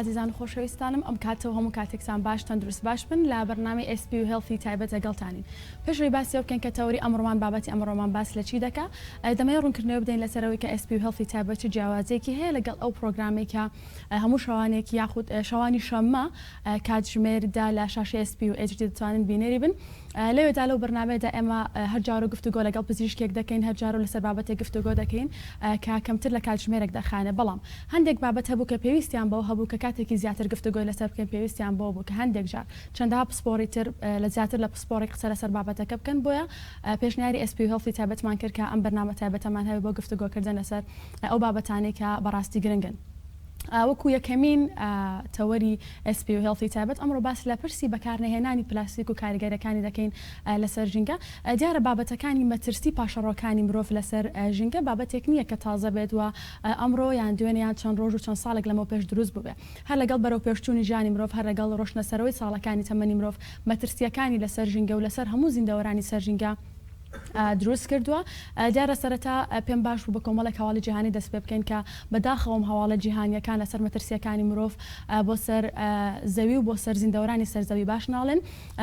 ئازیزان و خۆشەویستانم ئەم کاتەوە هەموو کاتێکسان باش تەندروست باش بن لە بەرنامی ئسپ و هێڵفی تایبەت لەگەڵتانین پێشوی باسی بکەن کە تەوری ئەمڕۆمان بابەتی ئەمڕۆمان باس لە چی دەکا دەمەوێت ڕوونکردنەوە بدەین لەسەرەوەی کە ئسپ و هێڵفی تایبەت چ جیاوازێکی هەیە لەگەڵ ئەو پرۆگرامێکە هەموو شەوانێک یاخود شەوانی شەممە کاتژمێر دە لە شاشەی SP و HD دەتوانن بینەری بن لەوێدا لەو بەرنامەیەدا ئێمە هەر جارو گفتوگۆ لەگەڵ پزیشکێک دەکەین هەر جارو لەسەر بابەتێک گفتوگۆ دەکەین کە کەمتر لە کاتژمێرێک دەخایەنێ بەڵام هەندێک بابەت هەبوو کە پێویستیان بەوە هەبوو کە کاتێکی زیاتر گفتوگۆی لەسەر بکەین پێویستیان بەوە بوو کە هەندێک جار چەندەها پسپۆڕی تر لە زیاتر لە پسپۆڕێک قسە لەسەر بابەتەکە بکەن بۆیە پێشنیاری SP Health ی تایبەتمان کرد کە ئەم بەرنامە تایبەتەمان هەبێت بۆ گفتوگۆکردن لەسەر ئەو بابەتانەی کە بەڕاستی گرنگن. وەکو یەکەمین تەوەری SP و Healthy تایبەت ئەمڕۆ باس لە پرسی بەکارنەهێنانی پلاستیک و کاریگەریەکانی دەکەین لەسەر ژینگە دیارە بابەتەکانی مەترسی پاشەڕۆکانی مرۆڤ لەسەر ژینگە بابەتێک نییە کە تازە بێت و ئەمڕۆ یان دوێنێ یان چەند ڕۆژ و چەند ساڵێک لەمەو پێش دروست بووبێ هەر لەگەڵ بەرەو پێشچوونی ژیانی مرۆڤ هەر لەگەڵ ڕۆشتنە سەرەوەی ساڵەکانی تەمەنی مرۆڤ مەترسییەکانی لەسەر ژینگە و لەسەر هەموو زیندەوەرانی سەر ژینگە دروست کردووە، دیارە سەرەتا پێم باش بوو بە کۆمەڵێک هەواڵی جیهانی دەست پێ بکەین کە بە داخەوەم هەواڵە جیهانییەکان لەسەر مەترسییەکانی مرۆڤ بۆ سەر زەوی و بۆ سەر زیندەوەرانی سەر زەوی باش ناڵێن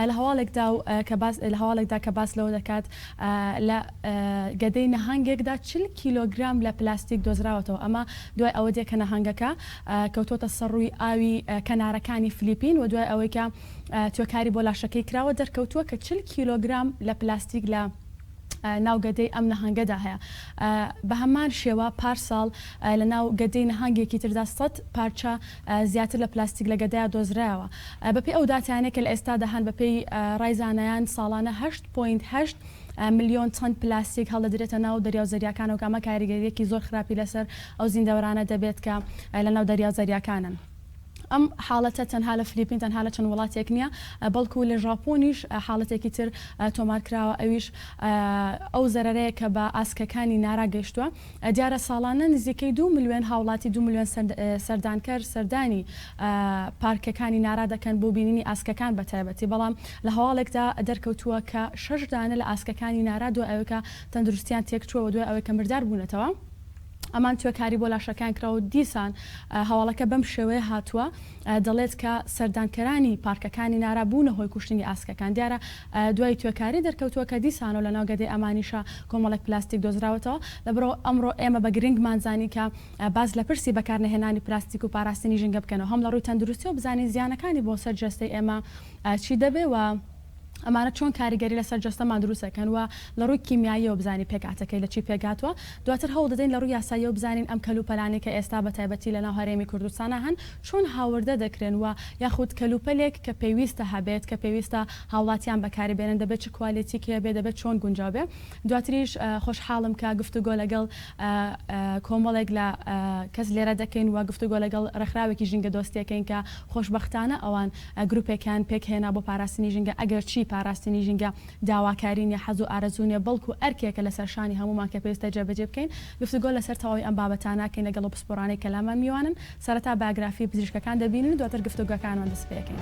لە هەواڵێکدا و کە باس لە هەواڵێکدا کە باس لەوە دەکات لە گەدەی نەهەنگێکدا چل کیلۆگرام لە پلاستیک دۆزراوەتەوە ئەمە دوای ئەوە دێ کە نەهەنگەکە کەوتووەتە سەر ڕووی ئاوی کەنارەکانی فلیپین و دوای ئەوەی کە توێکاری بۆ لاشەکەی کراوە دەرکەوتووە کە چل کیلۆگرام لە پلاستیک لە ناو گەدەی ئەم نەهەنگەدا هەیە بەهەمان شێوە پارساڵ لە ناو گەدەی نەهانگێکی تردا سەد پارچە زیاتر لە پلاستیک لە گەدەیا دۆزرایەوە بەپێی ئەو داتانەی کە لە ئێستادا هەن بەپێی ڕای زانایان ساڵانە هەشت پۆینت هەشت ملیۆن تەن پلاستیک هەڵدەدرێتە ناو دەریاو زەریاکانەوە کە ئەمە کاریگەریەکی زۆر خراپی لەسەر ئەو زیندەوەرانە دەبێت کە لە ناو دەریاو زەریاکانن. ئەم حاڵەتە تەنها لە فلیپین تەنها لە چەند وڵاتێک نییە، بەڵکو لە ژاپۆنیش حاڵەتێکی تر تۆمارکراوە ئەویش ئەو زەرەرەیە کە بە ئاسکەکانی نارا گەیشتووە، دیارە ساڵانە نزیکەی دوو ملیۆن هاوڵاتی دوو ملیۆن سەردانکەر سەردانی پارکەکانی نارا دەکەن بۆ بینینی ئاسکەکان بە تایبەتی، بەڵام لە هەواڵێکدا دەرکەوتووە کە شەش دانە لە ئاسکەکانی نارا دوای ئەوەی کە تەندروستیان تێکچووە و دوای ئەوەی کە مردار بوونەتەوە، ئەمان توێ کاری بۆ لاشەکەیان کراوە و دیسان هەواڵەکە بەم شێوەیە هاتووە دەڵێت کە سەردانکەرانی پارکەکانی نارا بوونە هۆی کوشتنی ئاسکەکان دیارە دوای توێ کاری دەرکەوتووە کە دیسان و لەناو گەدەی ئەمانیشا کۆمەڵێک پلاستیک دۆزراوەتەوە لەبەرو ئەمڕۆ ئێمە بە گرنگمان زانی کە باس لە پرسی بەکار نەهێنانی پلاستیک و پاراستنی ژینگە بکەنەوە هەم لە ڕووی تەندروستی و بزانین زیانەکانی بۆ سەر جەستەی ئێمە چی دەبێ و ئەمانە چۆن کاریگەری لەسەر جەستەمان دروست دەکەن و لە ڕووی کیمیاییەوە بزانین پێکهاتەکەی لە چی پێکهاتووە، دواتر هەوڵ دەدەین لە ڕووی یاساییەوە بزانین ئەم کەلوپەلانەی کە ئێستا بە تایبەتی لە ناو هەرێمی کوردستانا هەن چۆن هاوردە دەکرێن و یاخود کەلوپەلێک کە پێویستە هەبێت کە پێویستە هاوڵاتیان بەکاری بێنن دەبێت چ کوالێتیک هەبێت دەبێت چۆن گونجاو بێت دواتریش خۆشحاڵم کە گفتوگۆ لەگەڵ کۆمەڵێک لە کەس لێرە دەکەین و گفتوگۆ لەگەڵ ڕێکخراوێکی ژینگە دۆستیەکەین کە خۆشبەختانە ئەوان گروپێکیان پێکهێنا بۆ پاراستنی ژینگە، ئەگەرچی پاراستنی ژینگە داواکاری نییە، حەز و ئارەزوو نییە، بەڵکو ئەرکێکە لەسەر شانی هەموومان کە پێویستە جێبەجێی بکەین. گفتوگۆ لەسەر تەواوی ئەم بابەتانە ئەکەین لەگەڵ ئەو پسپۆرانەی کە لامان میوانن، سەرەتا بایۆگرافی پزیشکەکان دەبینین و دواتر گفتوگۆکانمان دەست پێکەین.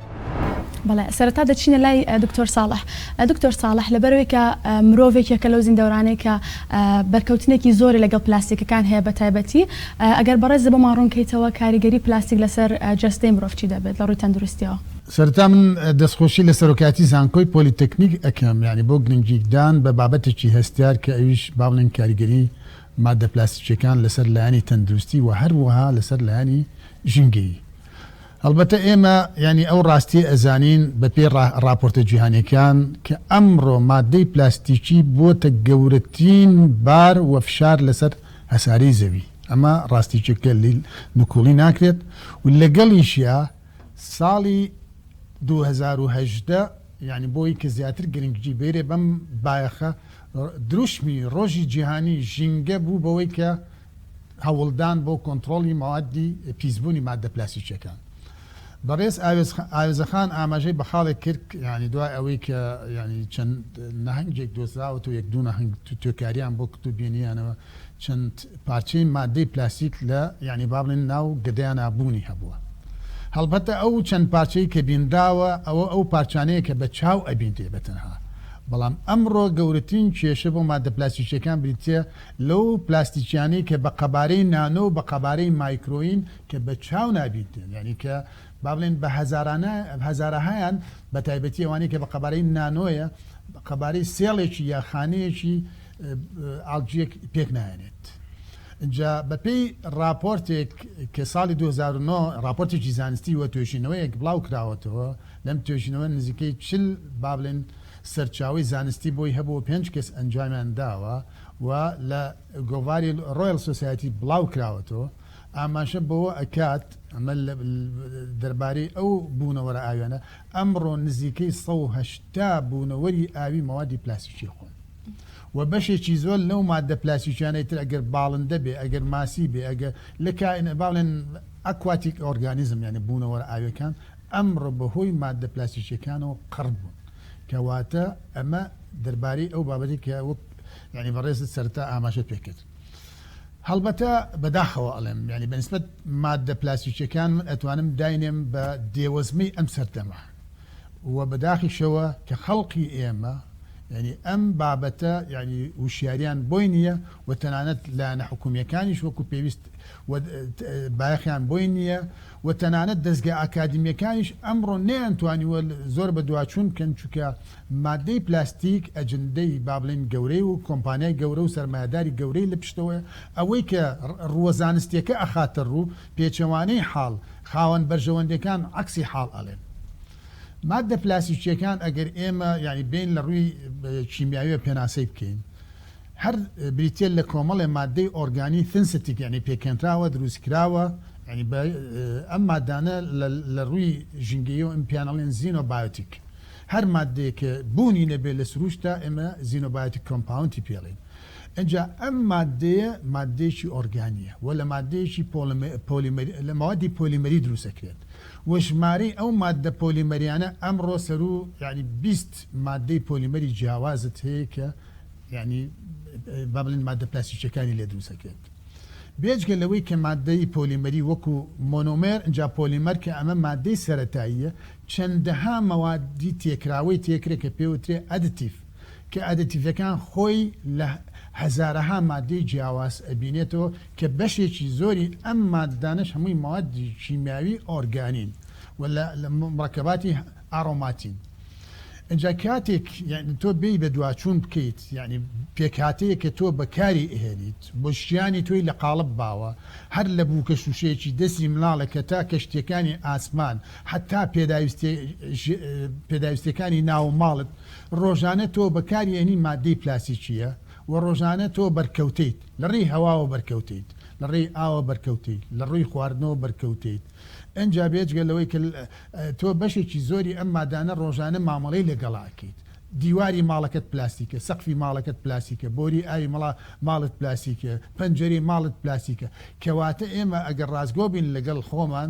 بەڵێ سەرەتا دەچینە لای دکتۆر ساڵح دکتۆر ساڵح لەبەرەوەی کە مرۆڤێک یەکە لەو زیندەورانەی کە بەرکەوتنێکی زۆری لەگەڵ پلاستیکەکان هەیە بە تایبەتی ئەگەر بەڕێز بۆمان ڕوونکەیتەوە کاریگەری پلاستیک لەسەر جەستەی مرۆڤ چی دەبێت لە ڕووی تەندروستیەوە. سەرەتا من دەستخۆشی لە سەرۆکایەتی زانکۆی پۆلیتەکنیک ئەکەم یانی بۆ گرنگیکدان بە بابەتێکی هەستیار کە ئەویش با بڵێین کاریگەری ماددە پلاستیکیەکان لەسەر لایەنی تەندروستی و هەروەها لەسەر لایەنی ژینگەیی هەڵبەتە ئێمە یانی ئەو ڕاستییە ئەزانین بەپێی ڕاپۆرتە جیهانیەکان کە ئەمڕۆ ماددەی پلاستیکی بۆتە گەورەترین بار وفشار لەسەر هەسارەی زەوی ئەمە ڕاستیکێکە لی نکوڵی ناکرێت و لەگەڵیشیا ساڵی دوو هەزار و هەژدە یعنی بۆی کە زیاتر گرنگجی بێرێ بەم بایەخە دروشمی ڕۆژی جیهانی ژینگە بوو بەوەی کە هەوڵدان بۆ کۆنتڕۆڵی مەوادی پیسبوونی ماددە پلاسیکیەکان. بەڕێز ئاوێزەخان ئاماژەی بە خاڵێک کرد یانی دوای ئەوەی کە یانی چەند نەهەنگێک دۆزراوەتەوە یەک دوو نەهەنگ توێکاریان بۆ کردو بینیانەوە چەند پارچەی ماددەی پلاسیک لە یانی با بڵێن ناو گەدەیانا بوونی هەبووە. هەڵبەتە ئەو چەند پارچەی کە بینراوە ئەوە ئەو پارچانەیە کە بە چاو ئەبینرێ بە تەنها، بەڵام ئەمڕۆ گەورەترین کێشە بۆ ماددە پلاسیکیەکان بریتیە لەو پلاستیکیانەی کە بە قەبارەی نانۆ و بە قەبارەی مایکرۆین کە بە چاو نابینرێن یانی کە با بڵێین بە هەزارانە هەزارەهایان بە تایبەتی ئەوانەی کە بە قەبارەی نانۆیە قەبارەی سێڵێکی یا خانەیەکی ئاڵجیەک پێک نایەنێت جا بە پێی ڕاپۆرتێک کە ساڵی 2009 ڕاپۆرتێکی زانستی وە توێژینەوەیەک بڵاو کراوەتەوە لەم توێژینەوە نزیکەی چل با بڵێن سەرچاوی زانستی بۆی هەبوو پێنج کەس ئەنجامیان داوە و لە گۆڤاری ڕۆیڵ سۆسایتی بڵاو کراوەتەوە ئاماژە بەوە ئەکات ئەمە دەربارەی ئەو بوونەوەرە ئاویانە ئەمڕۆ نزیکەی ١٨٠ بوونەوەری ئاوی مەوادی پلاسیکی خۆن و بەشێکی زۆر لەو مادە پلاسیکیانەی تر ئەگەر باڵندە بێ ئەگەر ماسی بێ ئەگە لە کائن باڵێن ئەکواتیک ئۆرگانیزم یعنی بوونەوەرە ئاویەکان ئەمڕۆ بەهۆی مادە پلاسیکیەکانەوە قڕ بوون کەواتە ئەمە دەربارەی ئەو بابەتی کە وەک یعنی بەڕێزت سەرتا ئاماژە پێکرد هەڵبەتە بەداخەوە ئەڵێم ینی بەنسبت مادە پلاسیکیەکان من ئەتوانم داینێم بە دێوەزمی ئەم سەردەمە و بەداخیشەوە کە خەڵقی ئێمە ینی ئەم بابەتە ینی وشیاریان بۆی نییە و تەنانەت لایەنە حکومیەکانیش وەکو پێویست بایەخیان بۆی نییە و تەنانەت دەزگا ئاکادمیەکانیش ئەمڕۆ نەیانتوانیوە زۆر بەدواچوون بکەن چونکە مادەی پلاستیک ئەجندەی بابڵێین گەورەی و کۆمپانیای گەورە و سەرمایەداری گەورەی لە پشتەوەیە ئەوەی کە ڕووە زانستیەکە ئەخاتە ڕوو پێچەوانەی حاڵ خاوەن بەرژەوەندەکان عەکسی حاڵ ئەلێن مادە پلاسیکیەکان ئەگەر ئێمە یانی بێین لە ڕووی کیمیاویە پێناسەی بکەین هەر بریتیە لە کۆمەڵێ ماددەی ئۆرگانی ثنسیتیک یانی پێکهێنراوە دروستکراوە یانی بە ئەم ماددانە لە لە ڕووی ژینگەییەوە ئم پێیان ئەڵێن زینۆ بایۆتیک هەر ماددەیەک کە بوونی نەبێ لە سرووشتا ئێمە زینۆ بایۆتیک کۆمپاونتی پێ ئەڵێن ئنجا ئەم ماددەیە ماددەیەکی ئۆرگانیە وە لە ماددەیەکی پۆڵم پۆلیمەری لە مەوادی پۆلیمەری دروست ئەکرێت وە ژمارەی ئەو ماددە پۆلیمەریانە ئەمڕۆ سەروو یانی بیست ماددەی پۆلیمەری جیاوازت هەیە کە یانی با بڵێن ماددە پلاستیکییەکانی لێ دروست ئەکرێت. بێجگە لەوەی کە ماددەی پۆلیمەری وەکو مۆنۆمێر، ئینجا پۆلیمەر کە ئەمە ماددەی سەرەتاییە، چەندەها مەوادی تێکراوەی تێکرێت کە پێ وترێ ئەدتیڤ، کە ئەدتیڤەکان خۆی لە هەزارەها ماددەی جیاواز ئەبینێتەوە کە بەشێکی زۆری ئەم ماددانەش هەمووی مەوادی کیمیاوی ئۆرگانین و لە مڕەکەباتی ئاڕۆماتین. ئینجا کاتێک یانی تۆ بێی بە دواچوون بکەیت یانی پێکهاتەیە کە تۆ بەکاری ئەهێنیت بۆ ژیانی تۆی لە قاڵب باوە هەر لە بووکە شووشەیەکی دەستی مناڵێک کە تا کەشتیەکانی ئاسمان حەتا پێداویستێ پێداویستەکانی ناو ماڵت ڕۆژانە تۆ بەکاری ئەنی مادەی پلاسیکیە و ڕۆژانە تۆ بەرکەوتیت لە ڕێی هەواوە بەرکەوتیت لە ڕێی ئاوە بەرکەوتی لە ڕووی خواردنەوە بەرکەوتیت ئەجا بێجگە لەوەی کە تۆ بەشێکی زۆری ئەم مادانە ڕۆژانە مامەڵەی لەگەڵا ئەکەیت دیواری ماڵەکەت پلاستیکە سەقفی ماڵەکەت پلاسیکە بۆری ئاوی مڵا ماڵت پلاسیکە پەنجەرەی ماڵت پلاسیکە کەواتە ئێمە ئەگەر ڕاستگۆ بین لەگەڵ خۆمان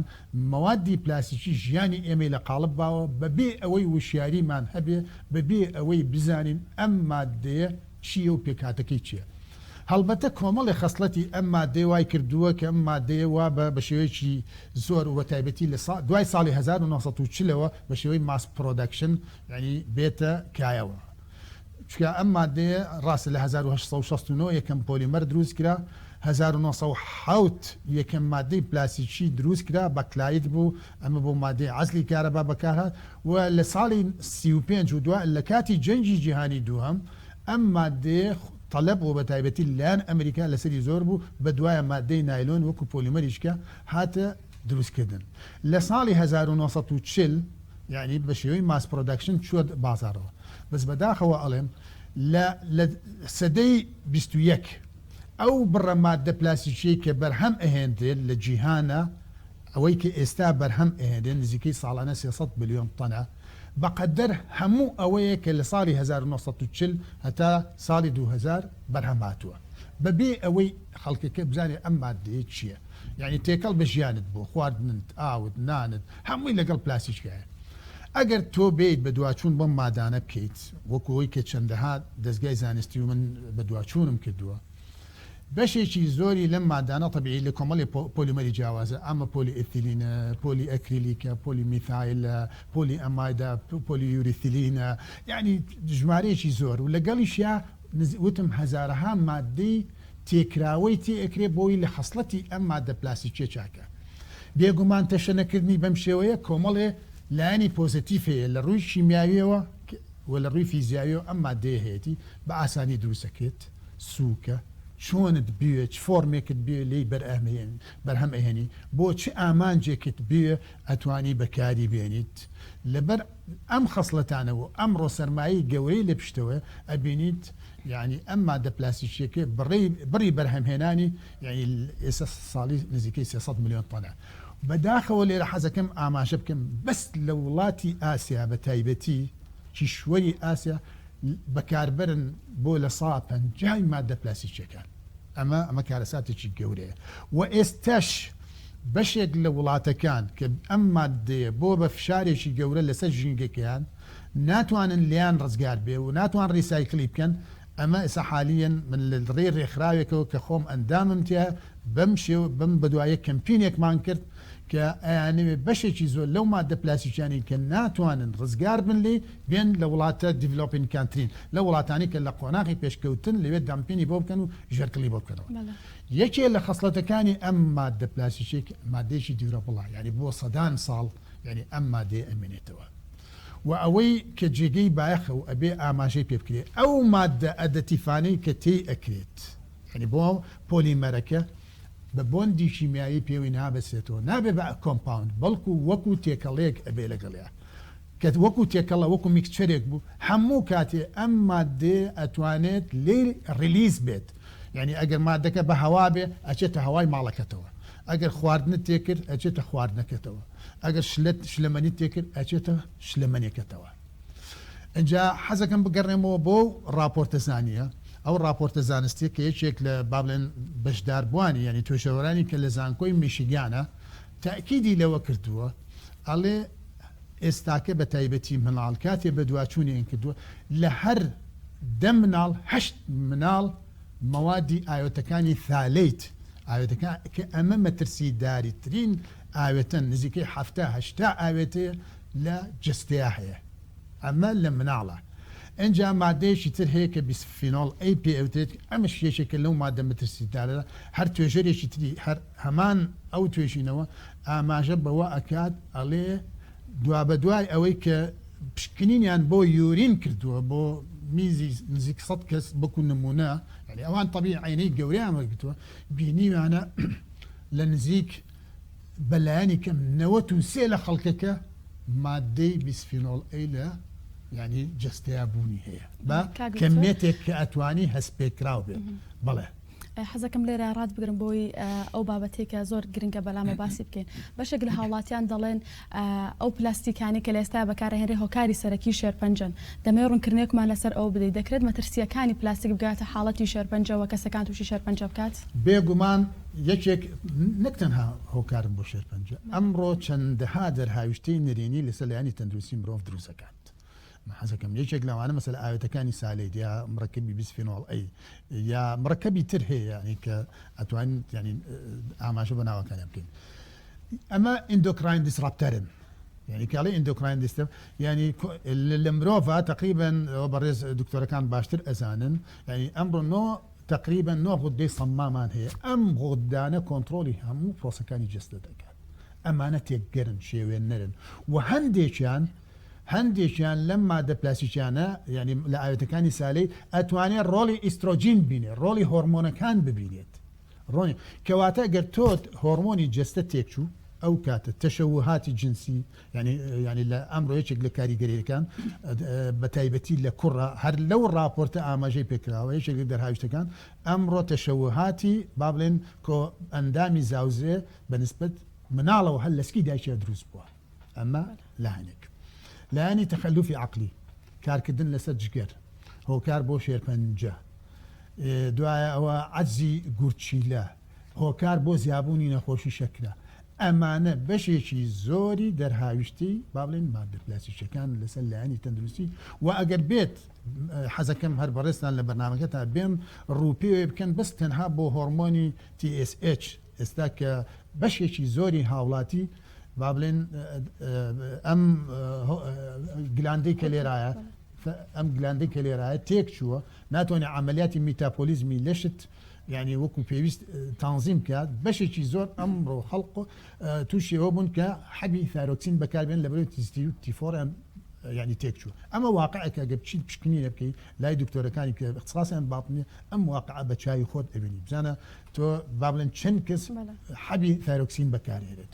مەوادی پلاسیکی ژیانی ئێمەی لە قاڵب باوە بەبێ ئەوەی وشیاریمان هەبێ بەبێ ئەوەی بزانین ئەم مادەیە چییە و پێکهاتەکەی چییە؟ هەڵبەتە کۆمەڵێ خەسڵەتی ئەم ماددەیە وای کردووە کە ئەم ماددەیە وا بە بە شێوەیەکی زۆر و بە تایبەتی لە سا دوای ساڵی هەزار و نۆ سەد و چل ەوە بە شێوەی ماس پرۆدەکشن یانی بێتە کایەوە چونکە ئەم ماددەیە ڕاستە لە هەزار و هەشت سەد و شەست و نۆ یەکەم پۆلیمەر دروست کرا هەزار و نۆ سەد و حەوت یەکەم ماددەی پلاستیکی دروست کرا بەکلایت بوو ئەمە بۆ مادەی عەزلی کارەبا بەکارهات و لە ساڵی سی و پێنج و دوا لە کاتی جەنگی جیهانی دووهەم ئەم مادەیە تەلەب و بەتایبەتی لە لایەن ئەمریکا لەسەری زۆر بوو بە دوایە مادەی نایلۆن وەکو پۆلیمەری شکە هاتە دروست کردن لە ساڵی هەزار و نۆ سەد و چل یانی بە شێوەی ماس پرۆدەکشن چووە بازاڕەوە بەس بەداخەوە ئەڵێم لە لە سەدەی بیست و یەک ئەو بڕە مادە پلاستیکیەی کە بەرهەم ئەهێندرێت لە جیهانە ئەوەی کە ئێستا بەرهەم ئەهێنرێ نزیکەی ساڵانە سێ سەد ملیۆن تەنە، بەقەدەر هەموو ئەوەیە کە لە ساڵی هەزار و نۆ سەد و چل هەتا ساڵی دوو هەزار بەرهەم هاتووە، بەبێ ئەوەی خەڵکەکە بزانێ ئەم ماددەیە چییە، یانی تێکەڵ بە ژیانت بووە، خواردنت، ئاوت، نانت، هەمووی لەگەڵ پلاستیکایە. ئەگەر تۆ بێیت بەدواچوون بەم مادانە بکەیت، وەکو ئەوەی کە چەندەها دەزگای زانستی و من بەدواچوونم کردووە، بەشێکی زۆری لەم مادانە تەبیعی لە کۆمەڵێ پۆلیمەری جیاوازە، ئەمە پۆلی ئیتیلینە، پۆلی ئەکریلیکە، پۆلی میثایلە، پۆلی ئەمایدە، پۆلی یوریثیلینە، یانی ژمارەیەکی زۆر و لەگەڵیشیا وتم هەزارەها ماددەی تێکراوەی تێ ئەکرێ بۆی لە خەسڵەتی ئەم ماددە پلاستیکیە چاکە. بێگومان تەشەنەکردنی بەم شێوەیە کۆمەڵێ لایەنی پۆزەتیف هەیە لە ڕووی کیمیاویەوە و لە ڕووی فیزیاویەوە ئەم ماددەیە هەیەتی بە ئاسانی دروست ئەکرێت. سوکە چۆنت بوێ چ فۆرمێکت بوێ لێی بەرئەمێن بەرهەم ئەهێنی بۆ چ ئامانجێکت بوێ ئەتوانی بەکاری بێنیت لەبەر ئەم خەسڵەتانە و ئەمڕۆ سەرمایەی گەورەی لە پشتەوەیە ئەبینیت یعنی ئەم مادە پلاسیکیەکە بڕی بڕی بەرهەمهێنانی یعنی ئێستا ساڵی نزیکەی 300 ملیۆن تەنە بەداخەوە لێرە حەزەکەم ئاماژە بکەم بەس لە وڵاتی ئاسیا بە تایبەتی کیشوەری ئاسیا بەکاربەرن بۆ لە سەدا پەنجا ی ماددە پلاستیکییەکان. ئەمە ئەمە کارەساتێکی گەورەیە و ئێستاش بەشێک لە وڵاتەکان کە ئەم ماددەیە بۆ بە فشارێکی گەورە لەسەر ژینگەکەیان ناتوانن لێیان ڕزگار بێ و ناتوان ڕیسایکلی بکەن ئەمە ئێستا حالیەن من لە ڕێی ڕێکخراوێکەوە کە خۆم ئەندامم تیا بەم شێو بەم بەدوایە کەمپینێکمان کرد کە ئەیانەوێ بەشێکی زۆر لەو ماددە پلاستیکیانەی کە ناتوانن ڕزگار بن لێی بێن لە وڵاتە دیڤلۆپینگ کانترین لەو وڵاتانەی کە لە قۆناغی پێشکەوتن لەوێ دامپینی بۆ بکەن و ژێرکڵی بۆ بکەنەوە یەکێ لە خەسڵەتەکانی ئەم ماددە پلاستیکیە کە ماددەیەکی دیورەبڵە یانی بۆ سەدان ساڵ یانی ئەم مادەیە ئەمێنێتەوە وە ئەوەی کە جێگەی بایەخە و ئەبێ ئاماژەی پێ بکرێ ئەو ماددە ئەدەتیفانەی کە تێی ئەکرێت یانی بۆ پۆلیمەرەکە بە بۆندی کیمیایی پێوەی نابەسێتەوە نابێ بە کۆمپاوند بەڵکو وەکو تێکەڵەیەک ئەبێ لەگەڵیا کە وەکو تێکەڵە وەکو میکچەرێک بوو هەموو کاتێ ئەم ماددەیە ئەتوانێت لێی ڕیلیز بێت یانی ئەگەر ماددەکە بە هەوا بێ ئەچێتە هەوای ماڵەکەتەوە ئەگەر خواردنت تێ کرد ئەچێتە خواردنەکەتەوە ئەگەر شلەت شلەمەنیت تێ کرد ئەچێتە شلەمەنێکەتەوە ئینجا حەزەکەم بگەڕێمەوە بۆ ئەو ڕاپۆرتە زانییە ئەو ڕاپۆرتە زانستیە کە یەکێک لە با بڵێن بەشداربووانی یانی توێژەوەرانی کە لە زانکۆی میشیگانە تەئکیدی لەوە کردووە ئەڵێ ئێستاکە بە تایبەتی مناڵ کاتێ بەدواچوونیان کردووە لە هەر دە مناڵ هەشت مناڵ مەوادی ئاوێتەکانی ثالەیت ئاوێتەکە کە ئەمە مەترسیداریترین ئاوێتەن نزیکەی حەفتا هەشتا ئاوێتەیە لە جستەیە هەیە ئەمە لە مناڵە ئەجا مادەیەکی تر هەیە کە بیسفینۆڵ ئەی پێ ئەوتێت ئەمە شێشێکە لەو مادە مەترسیدارە هەر توێژەرێکی تری هەر هەمان ئەو توێژینەوە ئاماژە بەوە ئەکات ئەڵێ دوابەدوای ئەوەی کە پشکنینیان بۆ یورین کردووە بۆ میزی نزیک سەد کەس وەکو نموونە یانی ئەوان تەبی عەینەی گەورەیان وەرگرتووە بینیویانە لە نزیک بە لایەنی کەم نەوەت و سێ لە خەڵکەکە مادەی بیسفینۆڵ ئەی لە یانی جەستەیا بوونی هەیە بە کەمێتێک کە ئەتوانی هەستپێکراو بێت بەڵێ حەزەکەم لێرە ڕات بگرم بۆی ئەو بابەتی کە زۆر گرنگە بەلامە باسی بکەین بەشێک لە هاوڵاتیان دەڵێن ئەو پلاستیکانی کە لە ئێستا بەکارهێنری هۆکاری سەرەکی شێرپەنجەن دەمەوێت ڕوونکردنێکمان لەسەر ئەو بدەیت دەکرێت مەترسیەکانی پلاستیک بگاتە حاڵەتی شێرپەنجەوە کەسەکان تووشی شێرپەنجە بکات بێگومان یەکێک نەک تەنها هۆکارن بۆ شێرپەنجە ئەمڕۆ چەندەها دەرهاویشتەی نەرێنی لەسەر لایەنی تەندروستی مرۆڤ دروست دەکات. من حەز ئەکەم یەکێک لەوانە مەسەلە ئاوێتەکانی سالێت یا مڕەکەبی بیسفینۆڵ ئەی یا مڕەکەبی تر هەیە یعنی کە ئەتوانین یعنی ئاماژە بە ناوەکانیان بکەین ئەمە ئیندۆکراین دیسڕاپتەرن یعنی کاڵی ئیندۆکراین دیستم ینی لە مرۆڤ تقریبن ئەوە بەڕێز دکتۆرەکان باشتر ئەزانن ینی ئەمڕۆ نۆ تقریبا نۆ غودەی سەمامان هەیە ئەم غوددانە کۆنتترۆلی هەموو پرۆسەکانی جستە دەکات ئەمانە تێکگەرن شێوێن نەرن و هەندێکیان هەندێکیان لەم مادە پلاستیکیانە یانی لە ئاوێتەکانی سالەی ئەتوانێت ڕۆڵی ئیسترۆجین ببینێت ڕۆڵی هۆڕمۆنەکان ببینێت ڕۆنی کەواتە گەر تۆت هۆڕمۆنی جەستە تێکچوو ئەو کاتە تەشەوهاتی جنسی یانی یانی لە ئەمڕۆ یەکێک لە کاریگەریەکان بە تایبەتی لە کوڕە هەر لەو ڕاپۆرتە ئاماژەی پێکراوە یەکێک لە دەرهاویشتەکان ئەمڕۆ تەشەوهاتی با بڵێن کۆ ئەندامی زاوزێ بە نسبەت مناڵەوە هەر لەسکی دایکیا دروست بووە ئەمە لایەنێک لایەنی تەخەلوفی عقلی کارکردن لەسەر جگەر هۆکار بۆ شێرپەنجە دوایە ئەوە عەزی گورچیلە هۆکار بۆ زیابوونی نەخۆشی شەکرە ئەمانە بەشێکی زۆری دەرهاویشتی باڵێن مادە پلاسیشەکان لەسەر لایەنی تەندروستی و ئەگەر بێت حەزەکەم هەر بەڕێستان لە بەرنمەکە تا بێم ڕوپێ بکەن بەس تەنها بۆ هۆرمۆنی TSH ئێستا کە بەشێکی زۆری هاوڵاتی با بڵێن ئەم گلاندەی کە لێرایە ئەم گلاندەی کە لێرایە تێک چووە ناتوانێت عملیاتی میتاپۆلیزمی لەشت یعنی وەکو پێویست تانزیم بکات بەشێکی زۆر ئەمڕۆ خەڵق تووشیەوە بوون کە حەبی ثارۆکسین بەکاربێن لە بەرەوە تیستی و تیفۆریان یعنی تێک چوو ئەمە واقعەکە گە بچیت پشکنینە بکەیت لای دکتۆرەکانی کە اختصاسیان باڵنی ئەم واقع بە چاوی خۆت ئەبینی بزانە تۆ با بڵێن چەند کەس حەبی تایرۆکسین بەکارهێنێت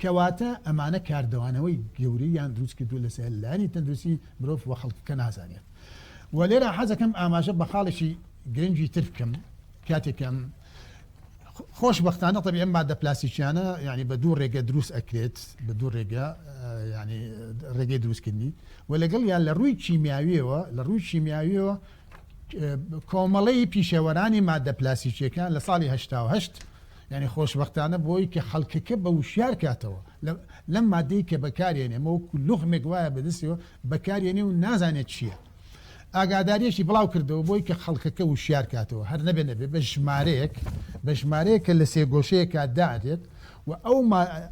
کەواتە ئەمانە کاردەوانەوەی گەورەیان دروست کردو لەسەر لانی تەندروستی مرۆڤ و خەڵکەکە نازانێت و لێرە حەزەکەم ئاماژە بە خاڵێکی گرنگی تر بکەم کاتێکم خۆشببختانە طبی ئەم مادە پلاسیکیانە ینی بە دوو ڕێگە دروست ئەکرێت بە دوو ڕێگە ینی ڕێگەی دروستکردنی و لەگەڵ یان لە ڕووی کیمیاویەوە لە ڕووی کیمیاویەوە کۆمەڵەی پیشەوەرانی مادە پلاسیکیەکان لە ساڵی هەشتا و هەشت یانی خۆشبەختانە بۆی کە خەڵکەکە بە وشیار کاتەوە لەم مادەی کە بەکارێنێ مەوەکو لوخمێک وایە بەدەستەوە بەکارێنێ و نازانێت چییە ئاگاداریەکی بڵاو کردەوە بۆی کە خەڵکەکە وشیار کاتەوە هەر نەبێ نەبێ بە ژمارەیەک بە ژمارەیە کە لە سێگۆشەیەکە دادێت و ئەو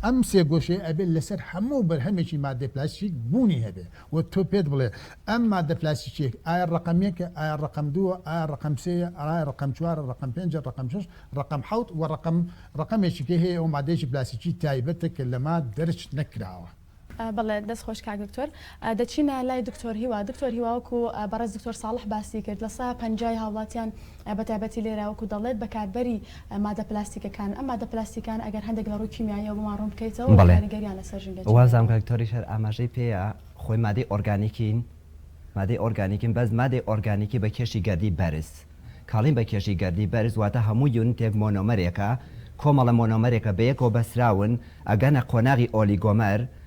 ئەم سێگۆشەیە ئەبێت لەسەر هەموو بەرهەمێکی مادەی پلاسیک بوونی هەبێ وە تۆ پێت بڵێ ئەم ماددە پلاستیکیەک ئایا ڕەقەم یەکە ئایا ڕەقەم دووە ئایا ڕەقەم سێیە ئایا ڕەقەم چوارە ڕەقەم پێنجە ڕەقەم شەش ڕەقەم حەوت وە ڕەقەم ڕەقەمێکی کە هەیە ئەوە ماددەیەکی پلاستیکی تایبەتە کە لەما دەرچ نەکراوە. بەڵێ دەست خۆش کاک دکتۆر دەچینە لای دکتۆر هیوا دکتۆر هیوا وەکو بەڕێز دکتۆر ساڵح باسی کرد لە سەا پەنجای هاوڵاتیان. بەتایبەتی لێرە وەکو دەڵێت بەکاربەری مادە پلاستیکەکانن، ئەم مادە پلاستیکانە ئەگەر هەندێک لە ڕووی کیمیاییەوە بۆمان ڕوون بکەیتەوە و کاریگەریان لەسەر ژینگە چیە؟ بەڵێ وازام کاک تۆریش هەر ئاماژەی پێیە خۆی مادەی ئۆرگانیکین مادەی ئۆرگانیکین بەس مادەی ئۆرگانیکی بە کێشی گەردی بەرز کاڵین بە کێشی گەردی بەرز واتە هەموو یونتێک مۆنۆمەرێکە کۆمەڵە مۆنۆمەرێکە بەیەکەوە بەسراون ئەگەنە قۆناغی ئۆلیگۆمەر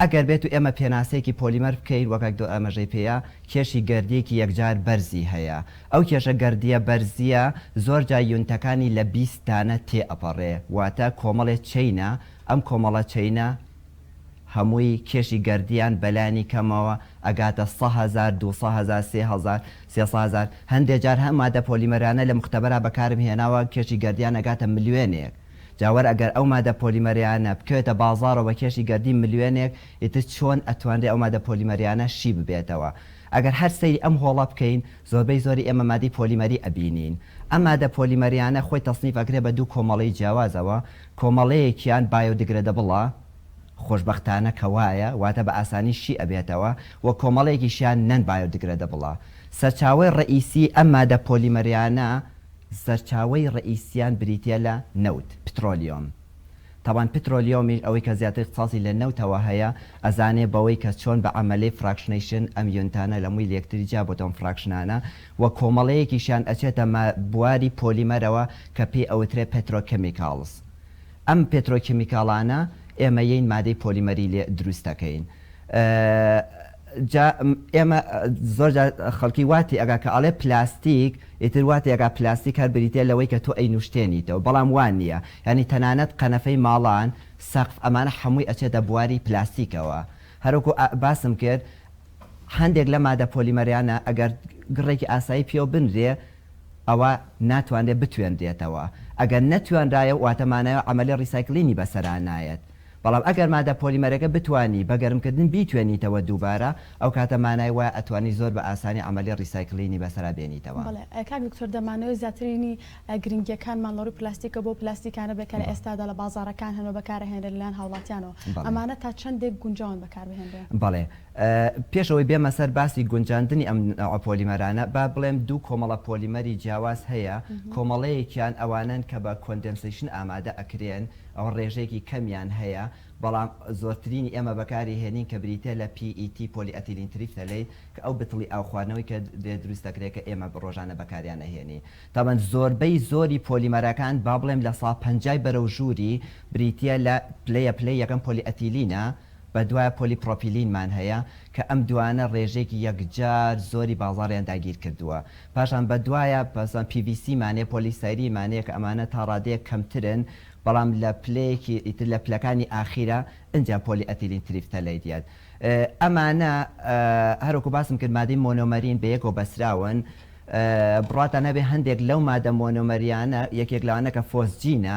ئەگەر بێت و ئێمە پێناسەیەکی پۆلیمەر بکەین وەک ئەک دۆ ئاماژەی پێیە کێشی گەردییەکی یەکجار بەرزی هەیە ئەو کێشە گەردییە بەرزییە زۆر جار یونتەکانی لە بیست دانە تێ ئەپەڕێ واتە کۆمەڵێ چەینە ئەم کۆمەڵە چەینە هەمووی کێشی گەردییان بە لانی کەمەوە ئەگاتە سە هەزار دوو سە هەزار سێ هەزار سێ سە هەزار هەندێ جار هەم مادە پۆلیمەرانە لە موختەبەرا بەکارم هێناوە کێشی گەردییان ئەگاتە ملیۆنێک جا وەر ئەگەر ئەو مادە پۆلیمەرەیانە بکەوێتە بازاڕەوە بە کێشی گەردی ملیۆنێک ئیتر چۆن ئەتوانرێ ئەو مادە پۆلیمەرەیانە شی ببێتەوە ئەگەر هەر سەیری ئەم هۆڵە بکەین زۆربەی زۆری ئێمە مادەی پۆلیمەری ئەبینین ئەم مادە پۆلیمەرەیانە خۆی تەسنیف ئەکرێ بە دوو کۆمەڵەی جیاوازەوە کۆمەڵەیەکیان بایۆدگرەدەبڵە خۆشبەختانە کە وایە واتە بە ئاسانی شی ئەبێتەوە و کۆمەڵەیەکیشیان نەن بایۆدگرەدەبڵە سەرچاوەی ڕەئیسی ئەم مادە پۆلیمەرەیانە سەرچاوەی ڕەئیسییان بریتییە لە نەوت، پترۆلیۆم. تەبعەن پترۆلیۆمیش ئەوەی کە زیاتر اختصاصی لە نەوتەوە هەیە ئەزانێ بەوەی کە چۆن بە عەمەلەی فراکشنەیشن ئەم یۆنتانە لە مووی لەیەکتری جیا بۆتەوە ئەم فراکشنانە و کۆمەڵەیەکیشیان ئەچێتە ما بواری پۆلیمەرەوە کە پێی ئەوترێ پێترۆ کێمیکاڵس. ئەم پێترۆ کێمیکاڵانە ئێمەیین مادەی پۆلیمەری لێ دروست دەکەین. جا ئێمە زۆر جار خەڵکی وا تێئەگا کە ئەڵێ پلاستیک ئیتر وا تێئەگا پلاستیک هەر بریتیە لەوەی کە تۆ ئەینوشتێنیتەوە بەڵام وا نیە یانی تەنانەت قەنەفەی ماڵان سەقف ئەمانە حەمووی ئەچێتە بواری پلاستیکەوە هەر وەکو باسم کرد هەندێک لە مادە پۆلیمەرەیانە ئەگەر گڕێکی ئاسایی پێوە بنرێ ئەوا ناتوانرێ بتوێنرێتەوە ئەگەر نەتوانرایە واتە مانایەوە عەمەلی ڕیسایکلینی بەسەرا نایەت بەڵام ئەگەر مادە پۆلیمەرەکە بتوانی بە گەرمکردن بیتوێنیتەوە دووبارە ئەو کاتە مانای وایە ئەتوانی زۆر بە ئاسانی عەمەلی ڕیسایکلینی بەسەرا بێنیتەوە. بەڵێ کاک دکتۆر دەمانەوێت زیاتر بینی گرنگیەکانمان لەڕووی پلاستیکەوە بەو پلاستیکانە بێت کە لە ئێستادا لە بازاڕەکان هەن و بەکارئەهێنرێن لەلایەن هاوڵاتیانەوە ئەمانە تا چەندێک گونجاون بەکاربهێنرێن؟ بەڵێ پێش ئەوەی بێمە سەر باسی گونجاندنی ئەم نەوعە پۆلیمەرانە با بڵێم دوو کۆمەڵە پۆلیمەری جیاواز هەیە کۆمەڵەیەکیان ئەوانەن کە بە کۆندێنسەیشن ئامادە ئەکرێن ئەوە ڕێژەیەکی کەمیان هەیە، بەڵام زۆرترینی ئێمە بەکاری هێنین کە بریتیە لە PET، پۆلی ئەتیلین تریفتەلەیت، کە ئەو بتڵی ئاو خواردنەوەی کە دێت دروست دەکرێت کە ئێمە ڕۆژانە بەکاریان ئەهێنین. تابان زۆربەی زۆری پۆلیمەرەکان با بڵێم لە سا پەنجای بەرەو ژووری بریتیە لە پلەیە پلەی یەکەم پۆلی ئەتیلینە، بە دوای پۆلی پرۆپیلینمان هەیە کە ئەم دوانە ڕێژەیەکی یەکجار زۆری بازاڕیان داگیر کردووە. پاشان بە دوایە پەسان پی ڤی سی مان هەیە، پۆلی ستایرین مان هەیە کە ئەمانە تا ڕادەیەک کەمترن بەڵام لە پلەیەکی ئیتر لە پلەکانی ئاخیرە ئنجا پۆلی ئەتیلین تریفتەلەی دیت ئەمانە هەر وەکو باسم کرد مادەی مۆنۆمەرین بە یەکەوە بەستراون بڕواتان هەبێ هەندێک لەو مادە مۆنۆمەریانە یەکێک لەوانە کە فۆسجینە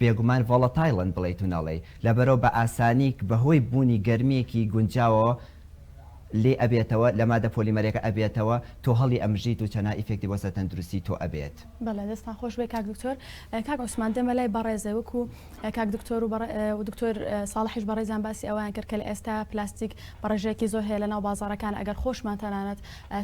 بێگومان ڤۆڵەتایڵن بڵێیت و نەڵێی لەبەرئەوە بە ئاسانی بەهۆی بوونی گەرمیەکی گونجاوەوە لێ ئەبێتەوە لە مادە پۆلیمەرەکە ئەبێتەوە تۆ هەڵی ئەمژیت و چەناا ئیفێکتی بۆ سەر تەندروستی تۆ ئەبێت. بەڵێ دەستتان خۆش بێ کاک دکتۆر کاک عوسمان دێمە لای بەڕێزێ وەکو کاک دکتۆر و دکتۆر ساڵحیش بەڕێزیان باسی ئەوەیان کرد کە لە ئێستا پلاستیک بەڕێژەیەکی زۆر هەیە لەناو بازاڕەکان ئەگەر خۆشمان تەنانەت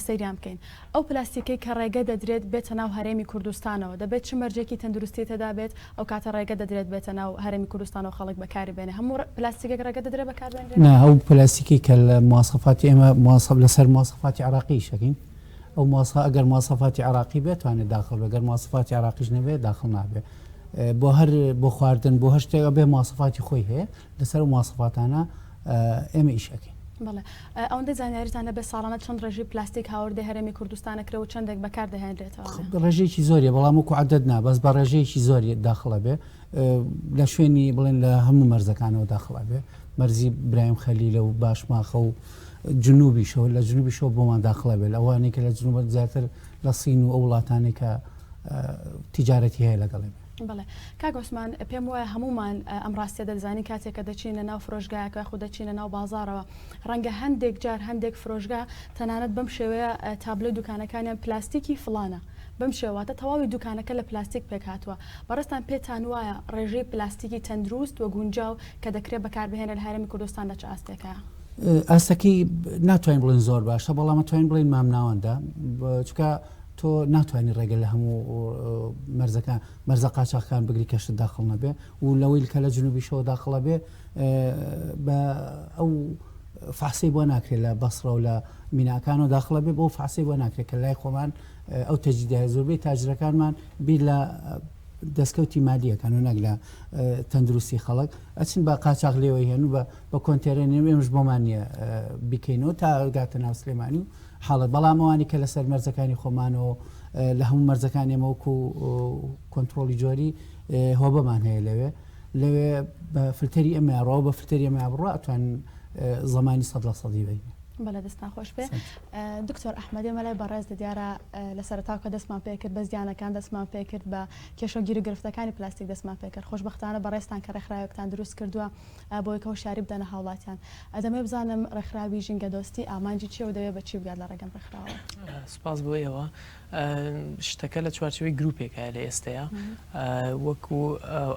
سەیریان بکەین ئەو پلاستیکەی کە ڕێگە دەدرێت بێتە ناو هەرێمی کوردستانەوە دەبێت چ مەرجێکی تەندروستی تێدا بێت ئەو کاتە ڕێگە دەدرێت بێتە ناو هەرێمی کوردستانەوە خەڵک بەکاری بێنێ هەموو پلاستیکێک ڕێگە دەدرێت بەکار بێنرێت؟ نا ئەو پلاستیکەی کە لە مواسەفاتی ئێمە مواسەف لەسەر مواسەفاتی عێراقی ئیش ئەکەین ئەو مواسە ئەگەر مواسەفاتی عێراقی بێت توانێت داخڵ بێت گەر مواسەفاتی عێراقیش نەبێت داخڵ نابێت بۆ هەر بۆ خواردن بۆ هەر شتێک ئەبێ مواسەفاتی خۆی هەیە لەسەر ئەو مواسەفاتانە ئێمە ئیش ئەکەین. بەڵێ ئەوەندە زانیاریتان هەبێت ساڵانە چەند ڕێژی پلاستیک هاوردەی هەرێمی کوردستانە کرێ و چەندێک بەکار دەهێنرێتەوە ڕێژێکی زۆری بەڵام وکو عدد نا بەس بە ڕێژەیەکی زۆری داخڵە بێ لە شوێنی بڵێن لە هەموو مەرزەکانەوە داخڵە بێ مەرزی برایم خەلی لە و باشماخە و جنوبیشەوە لە جنوبیشەوە بۆمان داخڵە بێت ئەوانێکە لە جنوبەت زیاتر لە سین و ئەو وڵاتانێکە تیجارەتی هەیە لەگەڵێ بێ بەڵێ کاک عوسمان پێم وایە هەمومان ئەم ڕاستیە دەزانین کاتێک کە دەچینە ناو فرۆشگایەکە خو دەچینە ناو بازارەوە ڕەنگە هەندێک جار هەندێک فرۆشگا تەنانەت بەم شێوەیە تابلۆی دوکانەکانیان پلاستیکی فلانە بەم شێواتە تەواوی دوکانەکە لە پلاستیک پێک هاتووە بەڕستان پێتان وایە ڕێژەی پلاستیکی تەندروست و گونجاو کە دەکرێت بەکاربهێنە لە هەرێمی کوردستان لە چ ئاستێکە ئاستەکەی ناتوانین بڵێن زۆر باشە بەڵام توانین بڵێن مامناوەندە چکە تۆ ناتوانی ڕێگە لە هەموو مەرزەکە مەرزە قاچاخکان بگری کەشت داخڵ نەبێ و لەوەی کە لە جنوبیشەوە داخڵە بێ بە ئەو فاسی بۆ ناکرێت لە بەسڕە و لە میناکان و داخڵە بێ بۆ فاسی بۆ ناکرێت کە لای خۆمان ئەو تەجیدای زۆربەی تاجرەکانمان بیر لە دەستکەوتی مادیەکان و نەک لە تەندروستی خەڵک ئەچن بە قاچاق لێوەی هێن و بە کۆنتێرێنێ ئێمەش بۆمان نیە بیکەینەوە تا گاتە ناو سلێمانی و حاڵێ بەڵام ئەوانی کە لەسەر مەرزەکانی خۆمانەوە لە هەموو مەرزەکان ئێمە وەکو کۆنتترۆلی جۆری هۆبەمان هەیە لەوێ لەوێ بە فلتەری ئەمەڕەوە بە فلتەری ئەمە بڕە ئەتوان زمانی سەد لە سەدی بین بەڵێ دەستان خۆش پێ دکتۆر ئەحمەدی مەلای بەڕێز دە دیارە لە سەرتاوکە دەستمان پێکرد بە زیانەکان دەستمان پێکرد بە کێشە گیرو گرفتەکانی پلاستیک دەستمان پێکرد خۆشببختانە بەڕێستان کە ڕێکخراوێکتان دروست کردووە بۆ یەکە هۆشیاری بدەنە هاوڵاتیان. دەمەوێت بزانم ڕێکخراوی ژینگەدۆستی ئامانجی چیە و دەوێت بە چی بگات لە ڕێگەم ڕێکخراوە؟ سپاس بۆ ئێوە. شتەکە لە چوارچێوەی گروپێکە لە ئێستەیە وەکو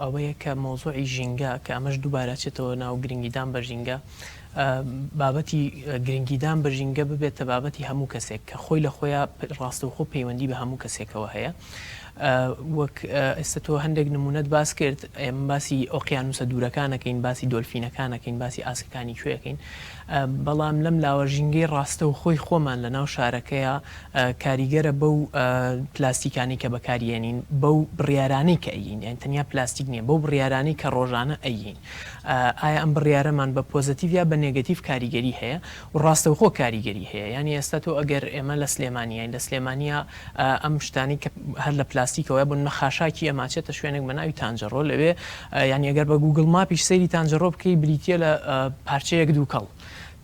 ئەوەیە کە مۆزۆعی ژینگە کە ئەمەش دووبارەچێتەوە ناو گرنگیدان بە ژینگە بابەتی گرنگیدان بە ژینگە ببێتە بابەتی هەموو کەسێک کە خۆی لە خۆیان ڕاستەوخۆ پەیوەندی بە هەموو کەسێکەوە هەیە وەک ئێستا تۆ هەندێک نموونەت باس کرد، ئێمە باسی ئۆقیانووسە دوورەکان ئەکەین، باسی دۆلفینەکان ئەکەین، باسی ئاسکەکانی کوێ ئەکەین، بەڵام لەم لاوە ژینگەی ڕاستەوخۆی خۆمان لە ناو شارەکەیا کاریگەرە بەو پلاستیکانەی کە بەکاری ئەنین، بەو بڕیارانەی کە ئەیین، یانی تەنیا پلاستیک نییە، بەو بڕیارانەی کە ڕۆژانە ئەیین، ئایا ئەم بڕیارەمان بە پۆزەتیڤ یا بە نێگەتیڤ کاریگەری هەیە؟ و ڕاستەوخۆ کاریگەری هەیە یانی ئێستا تۆ ئەگەر ئێمە لە سلێمانیین لە سلێمانییە ئەم شتانەی کە هەر لە پلاستیکەوەیە بن مە خاشاکی ئەما چێتە شوێنێک بە ناوی تانجەڕۆ لەوێ یانی ئەگەر بە گووگڵ ماپیش سەیری تانجەڕۆ بکەی بریتییە لە پارچەیەک دووکەڵ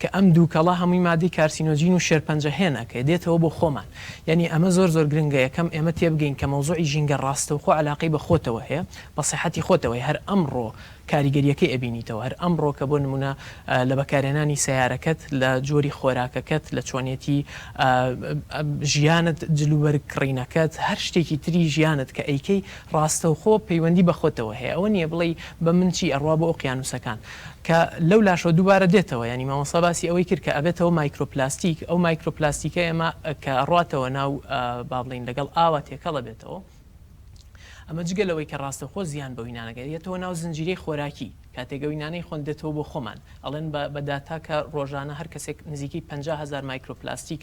کە ئەم دووکەڵە هەمووی مادەی کارسینۆجین و شێرپەنجە هێنە کە دێتەوە بۆ خۆمان یانی ئەمە زۆر زۆر گرنگە یەکەم ئێمە تێبگەین کە مەوزوعی ژینگە ڕاستەوخۆ عەلاقەی بە خۆتەوە هەیە بە سەحەتی خۆتەوە هەیە هەر ئەمڕۆ کاریگەریەکەی ئەبینیتەوە هەر ئەمڕۆ کە بۆ نمونە لە بەکارهێنانی سەیارەکەت لە جۆری خۆراکەکەت لە چۆنێتی ژیانت جلوبەرگ کڕینەکەت هەر شتێکی تری ژیانت کە ئەیکەی ڕاستەوخۆ پەیوەندی بە خۆتەوە هەیە ئەوە نیە بڵێی بە من چی ئەڕوا بۆ ئۆقیانوسەکان کە لەو لاشەوە دووبارە دێتەوە یانی مامۆستا باسی ئەوەی کرد کە ئەبێتەوە مایکرۆپلاستیک ئەو مایکرۆپلاستیکە ئێمە کە ئەڕاتەوە ناو با بڵێین لەگەڵ ئاوا تێکەڵ ئەبێتەوە ئەمە جگە لەوەی کە ڕاستەوخۆ زیان بەوی نانە گەیەنێت یەتەوە ناو زنجیرەی خۆراکی، کاتێک ئەوی نانەی خۆن دێتەوە بۆ خۆمان ئەڵێن بە بە داتا کە ڕۆژانە هەر کەسێک نزیکەی پەنجا هەزار مایکرۆپلاستیک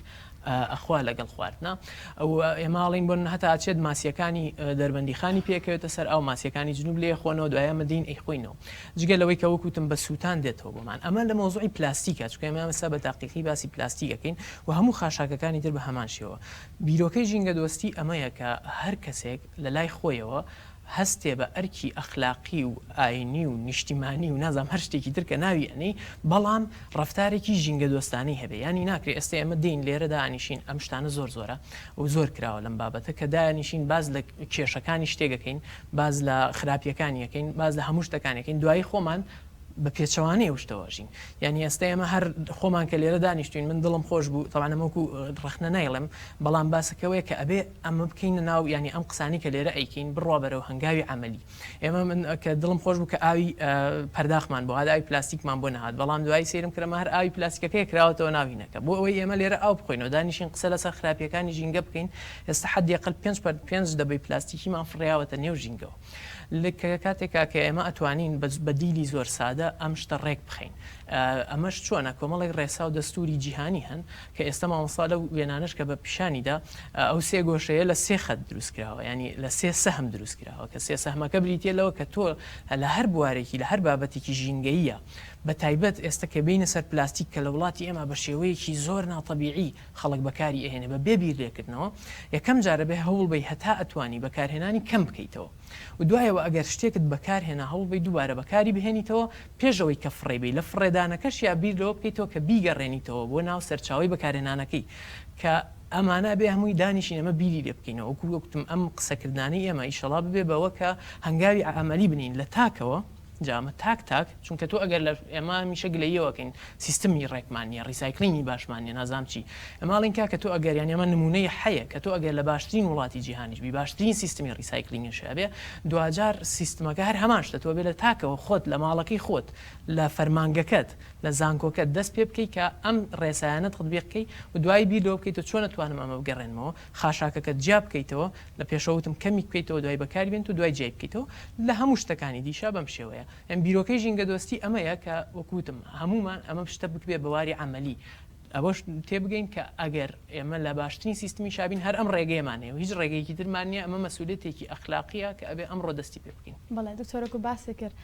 ئەخوا لەگەڵ خواردنا ئەو ئێمە ئاڵین بۆن هەتا ئەچێت ماسیەکانی دەربەندیخانی پێکەوێتە سەر ئەو ماسیەکانی جنوب لێ خۆنەوە دوایە مەدین ئەی خۆینەوە جگە لەوەی کە وەکوتم بە سووتان دێتەوە بۆمان ئەمە لە مۆزوعی پلاستیکە چکەمە مەسە بە تاقیقی باسی پلاستیکەکەین و هەموو خاشاکەکانی تر بە هەمان شێوە بیرۆکەی ژینگەدۆستی ئەمەیە کە هەر کەسێک لە لای خۆیەوە هەستێ بە ئەرکی ئەخلاقی و ئاینی و نیشتیمانی و نازام هەر شتێکی تر کە ناوی ئەنێی بەڵام ڕەفتارێکی ژینگەدۆستانەی هەبێ یانی ناکرێ ئێستە ئێمە دێین لێرە دانیشین ئەم شتانە زۆر زۆرە و زۆر کراوە لەم بابەتە کە دانیشین باس لە کێشەکانی شتێک ئەکەین باس لە خراپیەکانی ئەکەین باس لە هەموو شتەکانی ئەکەین دوایی خۆمان بە پێچەوانەی ئەو شتە واژین یانی ئێستا ئێمە هەر خۆمان کە لێرە دانیشتوین من دڵم خۆش بوو تەوانە مەکو ڕخنە نایڵێم بەڵام باسەکەوەیە کە ئەبێ ئەمە بکەینە ناو ینی ئەم قسانی کە لێرە ئەیکەین بڕوا بەرەو هەنگاوی عملی ئێمە من کە دڵم خۆش بوو کە ئاوی پەرداخمان بۆ هادا ئەوی پلاستیکمان بۆ نهات بەڵام دوایی سرم کرەمە هەر ئاوی پلاستیکەکەی کراوەتەوە ناوینەکە بۆ ئەوەی ئێمە لێرە ئاو بخۆینەوە دانیشین قسە لەسەر خراپیەکانی ژینگە بکەین ئێستا حدیقل پێنج پەر پێنج دەبەی پلاستیکیمان فڕیاوەتە نێو ژینگەوە لکە کاتێکا کە ئێمە ئەتوانین بە دیلی زۆر سادە ئەم شتە ڕێک بخەین ئەمەش چۆنە کۆمەڵێک ڕێسا و دەستوری جیهانی هەن کە ئێستا مامۆستا لە وێنانش کە بە پیشانیدا ئەو سێ گۆشەیە لە سێ خەت دروست کراوە ینی لە سێ سەهم دروست کراوە کە سێ سەهمەکە بریتە لەوە کە تۆ لە هەر بوارێکی لە هەر بابەتێکی ژینگەیە بە تایبەت ئێستا کە بینە سەر پلاستیک کە لە وڵاتی ئێمە بە شێوەیەکی زۆر ناتەبیعی خەڵک بەکاری ئەهێنێ بە بێ بیر لێکردنەوە یەکەم جار ئەبێ هەوڵ بەی هەتا ئەتوانی بەکارهێنانی کەم بکەیتەوە و دوایەوە ئەگەر شتێکت بەکار هێنا هەوڵ بەی دووبارە بەکاری بهێنیتەوە پێش ئەوەی کە فڕێی بەی لە فڕێدانەکەشیا بیر لەوە بکەیتەوە کە بیگەڕێنیتەوە بۆ ناو سەرچاوەی بەکارهێنانەکەی کە ئەمانە ئەبێ هەمووی دانیشین ئەمە بیری لێ بکەینەوە وەکو وەکوتم ئەم قسەکردنانەی ئێمە ئیشەڵا ببێ بەوە کە هەنگاوی عەمەلی بنێین لە تاکەوە جا ئەمە تاک تاک چونکە تۆ ئەگەر لە ئێمە هەمیشە گلەییەوەکەین سیستمی ڕێکمان نیە ڕیسایکلینی باشمان نیە نازانم چی ئێمە ئەڵێن کاکە تۆ ئەگەر یانی ئەمە نمونەی حەیە کە تۆ ئەگەر لە باشترین وڵاتی جیهانیش بی باشترین سیستمی ڕیسایکلینگیش هەبێ دواجار سیستمەکە هەر هەمان شتە تۆ بێ لە تاکەوە خۆت لە ماڵەکەی خۆت لە فەرمانگەکەت لە زانکۆکەت دەست پێ بکەی کە ئەم ڕێسایانە تطبیق کەی و دوایی بیر لەوە بکەی تۆ چۆن ئەتوانم ئەمە بگەڕێنمەوە خاشاکەکەت جیا بکەیتەوە لە پێشەوە وتم کەمی بکەیتەوە دوای بەکاری بێنت و دوای جیای بکەیتەوە لە هەموو شتەکانی دیشە بەم شێوەیە یان بیرۆکەی ژینگە دۆستی ئەمەیە کە وەکو وتم هەموومان ئەمە شتە بکبێ بە واری عەمەلی ئەوەش تێ بگەین کە ئەگەر ئێمە لە باشترین سیستمی شابین هەر ئەم ڕێگەیەمان هەیە و هیچ ڕێگەیەکی ترمان نیە ئەمە مەسولیەتێکی ئەخلاقیە کە ئەبێ ئەمڕۆ دەستی پێ بکەین. بەڵێ دکتۆرە گو باسێ کرد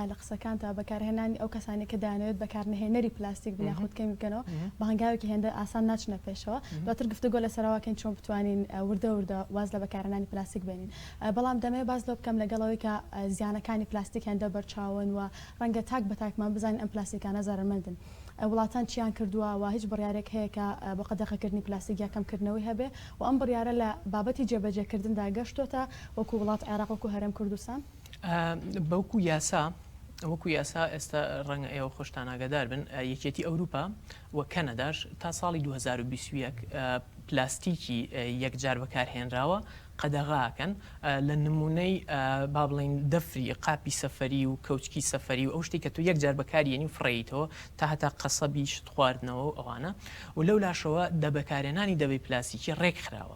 لە قسەکانتدا بەکارهێنانی ئەو کەسانەی کە دەیانەوێت بەکارنەهێنەری پلاستیک بن یاخود کەمی بکەنەوە، بە هەنگاوێکی هێندە ئاسان ناچنە پێشەوە. دواتر گفتوگۆ لەسەر ئەوە بکەین چۆن بتوانین وردە وردە واز لە بەکارهێنانی پلاستیک بێنین. بەڵام دەمەوێت باس لەوە بکەم لەگەڵ ئەوەی کە زیانەکانی پلاستیک هێندە بەرچاون و ڕەنگە تاک بە تاکمان بزانین ئەم پلاستیکانە زەرەرمەندن، وڵاتان چییان کردووە و هیچ بڕیارێک هەیە کە بۆ قەدەغەکردنی پلاستیک یا کەمکردنەوەی هەبێت و ئەم بڕیارە لە بابەتی جێبەجێکردندا گەشتۆتە وەکو وڵات عێراق وەکو هەرێم کوردستان؟ بەوکو یاسا وەکو یاسا ئێستا ڕەنگە ئێوە خۆشتان ئاگاداربن یەکێتی ئەوروپا و کەنەداش تا ساڵی 2021 پلاستیکی یەکجار بەکارهێنراوە قەدەغاکەن لە نمونەی با بڵین دەفری قاپی سەفری و کەوچکی سەفری و ئەو شتی کە تو یەکجار بەکاریێنی و فڕیتەوە تا هەتا قەسەبی شت خواردنەوە و ئەوانە و لەو لاشەوە دەبەکارێنانی دەبی پلاسیکی ڕێکخراوە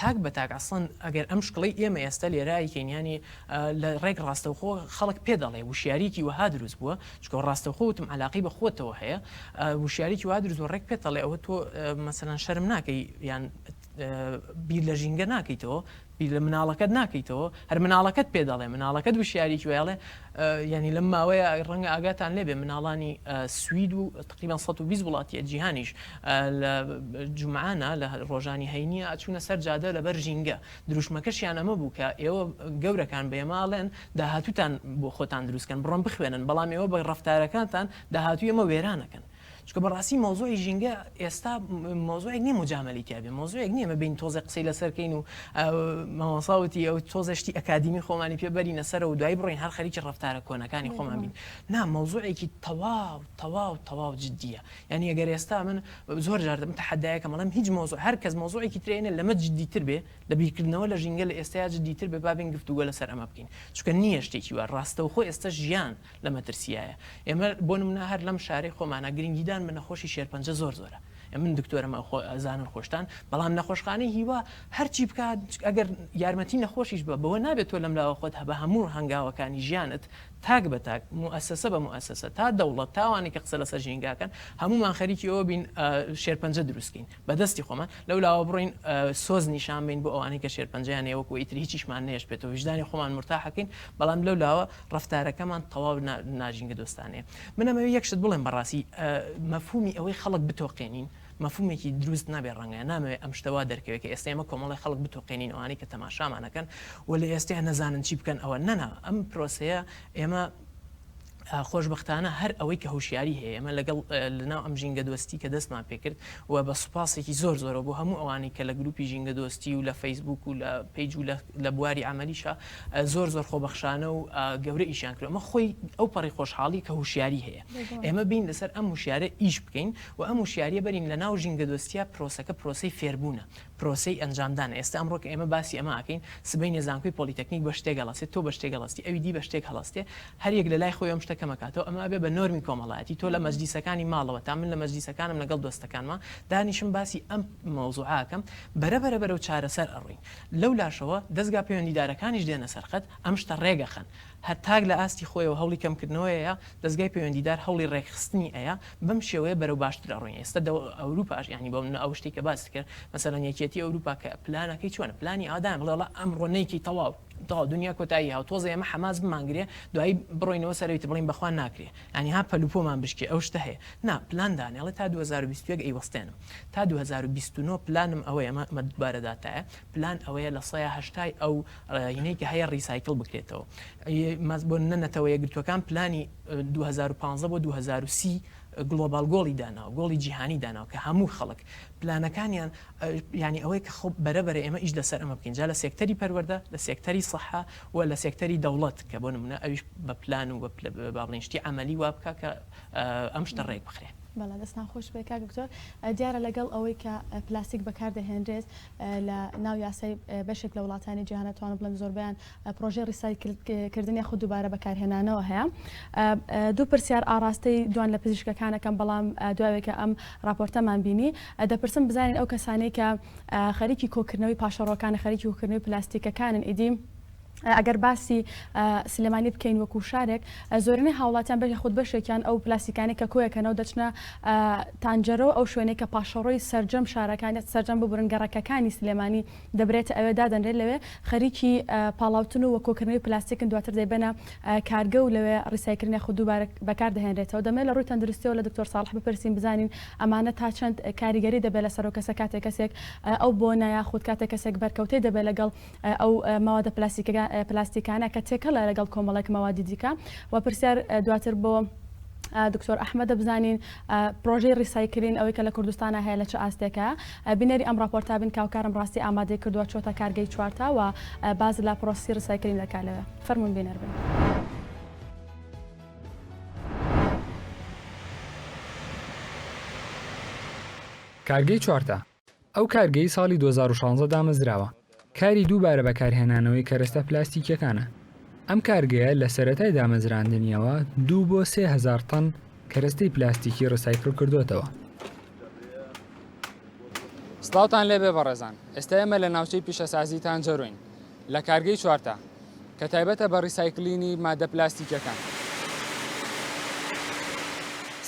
تاک بە تاک ئەسڵەن ئەگەر ئەم شکڵەی ئێمە ئێستە لێرە ئەیکەین یانی لە ڕێک ڕاستەوخۆ خەڵک پێ دەڵێ وشیاریکی وەها دروست بووە چونکە ڕاستەوخۆ وتم عەلاقەی بە خۆتەوە هەیە وشیاریکی وا دروست بووە ڕێک پێت دەڵێ ئەوە تۆ مەسەلەن شەرم ناکەی یان بیر لە ژینگە ناکەیتەوە بیر لە مناڵەکەت ناکەیتەوە هەر مناڵەکەت پێ دەڵێ مناڵەکەت وشیاریکی وایڵێ یانی لەم ماوەیە ڕەنگە ئاگاتان لێبێ مناڵانی سوید و تقریبا سەد و بیست وڵاتیە جیهانیش لە جومعانە لە ڕۆژانی هەینی ئەچونە سەر جادە لەبەر ژینگە دروشمەکەشیان ئەمە بوو کە ئێوە گەورەکان بە ئێمە ئەڵێن داهاتوتان بۆ خۆتان دروستکەن بڕۆن بخوێنن بەڵام ئێوە بە ڕەفتارەکانتان داهاتوی ئێمە وێرانەکەن چونکە بەڕاستی مەوزوعی ژینگە ئێستا مەوزوعێک نییە مجامەلەی تیا بێ مەوزوعێک نییە ببین تۆزێک قسەی لەسەر کەین و مامۆسا وتی ئەو تۆزێ شتی ئەکادیمی خۆمانی پێ بەرینە سەرە و دوای بڕۆین هەر خەریکی ڕەفتارە کۆنەکانی خۆمان بین نا مەوزوعێکی تەواو تەواو تەواو جددیە یعنی ئەگەر ئێستا من زۆر جار دەبم تەحەدایەکە مەڵم هیچ مەوزوع هەر کەس مەوزوعێکی ترێنە لەمە جددیتر بێ لە بیرکردنەوە لە ژینگە لە ئێستایا جددیتر بێ بابین گفتوگۆ لەسەر ئەمە بکەین چونکە نییە شتێکی وا ڕاستەوخۆ ئێستا ژیان لە مەترسییایە ئێمە بۆ نمونە هەر لەم شارەی خۆمانە گرنگیدان بە نەخۆشی شێرپەنجە زۆر زۆرە ئێ من دکتۆرم ئەو خۆ ئەزانن خۆشتان بەڵام نەخۆشخانەی هیوا هەرچی بکات ئەگەر یارمەتی نەخۆشیش بە بەوە نابێت تۆ لەم لاوە خۆت هەبە هەموو هەنگاوەکانی ژیانت تاک بە تاک موئەسەسە بە موئەسەسە تا دەوڵەت تاوانێکی قسە لەسەر ژینگاکەن هەموومان خەریکی ئەوە بین شێرپەنجە دروستکەین بە دەستی خۆمان لەو لاوە بڕۆین سۆز نیشان بین بۆ ئەوانەی کە شێرپەنجەیان هەیە وەکو ئیتر هیچیشمان نێشبێت و ویژدانی خۆمان مرتاحەکەین بەڵام لەو لاوە ڕەفتارەکەمان تەواو ناژینگە دۆستانەیە من ئەمەوێ یەک شت بڵێم بەڕاستی مەفهومی ئەوەی خەڵک بتۆقێنین مەفهومێکی دروست نابێ ڕەنگە نامەوێ ئەم شتە وا دەرکەوێت کە ئێستا ئێمە کۆمەڵی خەڵک بتۆقێنین ئەوانەی کە تەماشامانەکەن و لە ئێستا نەزانن چی بکەن ئەوە نەنا ئەم پرۆسەیە ئێمە خۆشبەختانە هەر ئەوەی کە هۆشیاری هەیە ئێمە لەگەڵ لەناو ئەم ژینگە دۆستی کە دەستمان پێکرد و بە سوپاسێکی زۆر زۆرەوە بۆ هەموو ئەوانەی کە لە گروپی ژینگە دۆستی و لە فەیسبووک و لە پەیج و لە بواری عەمەلیشا زۆر زۆر خۆبەخشانە و گەورە ئیشیان کرد ئەمە خۆی ئەو پەڕی خۆشحاڵی کە هوشیاری هەیە ئێمە بین لەسەر ئەم وشیارە ئیش بکەین و ئەم وشیاریە بەرین لە ناو ژینگە دۆستیا پرۆسەکە پرۆسی فێربوونە پرۆسەی ئەنجامدانە ئێستا ئەمڕۆ کە ئێمە باسی ئەمە ئەکەین سبەینێ زانکۆی پۆلیتەکنیک بە شتێک هەڵەسێت تۆ بە شتێک هەڵەستی ئەوی دی بە شتێک هەڵەستێ هەر یەک لە لای خۆی ئەم شتە کەم ئەکاتەوە ئەمە ئەبێ بە نۆرمی کۆمەڵایەتی تۆ لە مەجلیسەکانی ماڵەوە تا من لە مەجلیسەکانم لەگەڵ دۆستەکانما دانیشم باسی ئەم مەوزوعە ئەکەم بەرە بەرە بەرەو چارەسەر ئەڕۆین لەو لاشەوە دەزگا پەیوەندیدارەکانیش دێنە سەر خەت ئەم شتە ڕێک ئەخەن هەر تاک لە ئاستی خۆیەوە هەوڵی کەمکردنەوەی ئەیا، دەزگای پەیوەندیدار هەوڵی ڕێکخستنی ئەیا، بەم شێوەیە بەرەو باشتر ئەڕۆین، ئێستا دەو ئەوروپاش یانی بۆ منە ئەو شتەی کە باست کرد مەسەلەن یەکیەتی ئەوروپا کە پلانەکەی چۆنە پلانی ئەوە دانێ بڵێ وەڵا ئەمڕۆ نەیکەی تەواو تەواو دونیا کۆتایی هاو تۆزێ ئێمە حەماس بمانگرێ دوایی بڕۆینەوە سەرەوی تر بڵێین بەخوا ناکرێ یانی ها پەل و پۆمان بشکێ ئەو شتە هەیە نا پلان دانێ ئەڵێ تا دوو هەزار و بیست و یەک ئەیوەستێنم تا دوو هەزار و بیست و نۆ پلانم ئەوەیە ئەمە دوبارە داتایە پلان ئەوەیە لە سەیا هەشتای ئەو ینەی کە هەیە ڕیسایکل بکرێتەوە. ماست بۆ نە نەتەوە یەکگرتووەکان پلانی دوو هەزار و پازدە بۆ دوو هەزار و سی گڵۆباڵ گۆڵی داناوە گۆڵی جیهانی داناوە کە هەموو خەڵک پلانەکانیان یانی ئەوەیە کە خۆ بەرە بەرە ئێمە ئیش لەسەر ئەمە بکەین جا لە سێکتەری پەروەردە لە سێکتەری سەحە و لە سێکتەری دەوڵەت کە بۆ نمونە ئەویش بە پلان و با بڵێین شتی عەمەلی وا بکا کە ئەم شتە ڕێک بخرێ. بەڵێ دەستان خۆش بێت کاک دکتۆر دیارە لەگەڵ ئەوەی کە پلاستیک بەکار دەهێنرێت لە ناو یاسای بەشێک لە وڵاتانی جیهان ئەتوانم بڵێم زۆربەیان پرۆژەی ڕیسایکل کردن یاخود دووبارە بەکارهێنانەوە هەیە دوو پرسیار ئاڕاستەی دوان لە پزیشکەکانەکەم بەڵام دوایەکە ئەم راپۆرتەمان بینی دەپرسم بزانین ئەو کەسانەی کە خەریکی کۆکردنەوەی پاشەڕۆکانە خەریکی کۆکردنەوەی پلاستیکەکانن ئیدی ئەگەر باسی سلێمانی بکەین وەکو شارێک زۆرینەی هاوڵاتیان بەش خود بەشێکیان ئەو پلاسیکانی کە کۆیەکەنەوە دەچنە تانجەرەوە ئەو شوێنێک کە پاشەڕۆی سرجەم شارەکانیت سرجەم ببرن گەڕەکەکانی سلێمانی دەبرێتە ئەوێ دادەنرێت لەوێ خەریکی پاڵاوتن و وەکۆکردنەوەی پلاستیکن دواتر دەیبەنە کارگە و لەوێ ڕیسایکردن یاخود دووبارە بەکار دەهێنرێتەوە دەمێ لە ڕووی تەندروستیەوە لە دکتۆر ساڵح بپرسین بزانین ئەمانە تا چەند کاریگەری دەبێت لە سەرۆکەسە کاتێک کەسێک ئەو بۆ نایاخود کاتێک کەسێک بەرکەوتەی دەبێت لەگەڵ ئەو مەوادە پلاستیکانە کە تێکەڵە لەگەڵ کۆمەڵێک مەوادی دیکە و پرسیار دواتر بۆ دکتۆر ئەحمە دەبزانین پرۆژەی ڕیسایکلین ئەوەی کە لە کوردستانە هەیە لە چ ئاستێکە بینەری ئەم راپۆرتا بن کاوکارم ڕاستی ئامادەی کردووە چۆتە کارگەی چوارتا و باز لە پرۆسی ڕیسایکلین دەکا لەوێ فەرمون بینەر بن. کارگەی چوارتا ئەو کارگەی ساڵی دوو هەزار و شازدە دامەزراوە، کاری دووبارە بەکارهێنانەوەی کەرەستە پلاستیکییەکانە. ئەم کارگەیە لە سەرەتای دامەزراندنییەوە دوو بۆ سێ هەزار تەن کەرەستەی پلاستیکی ڕیسایکل کردۆتەوە. سڵاوتان لێبێ بەڕێزان، ئێستا ئێمە لە ناوچەی پیشەسازیی تانجەرۆین. لە کارگەی چوارتا کە تایبەتە بە ڕیسایکلینی ماددە پلاستیکیەکان.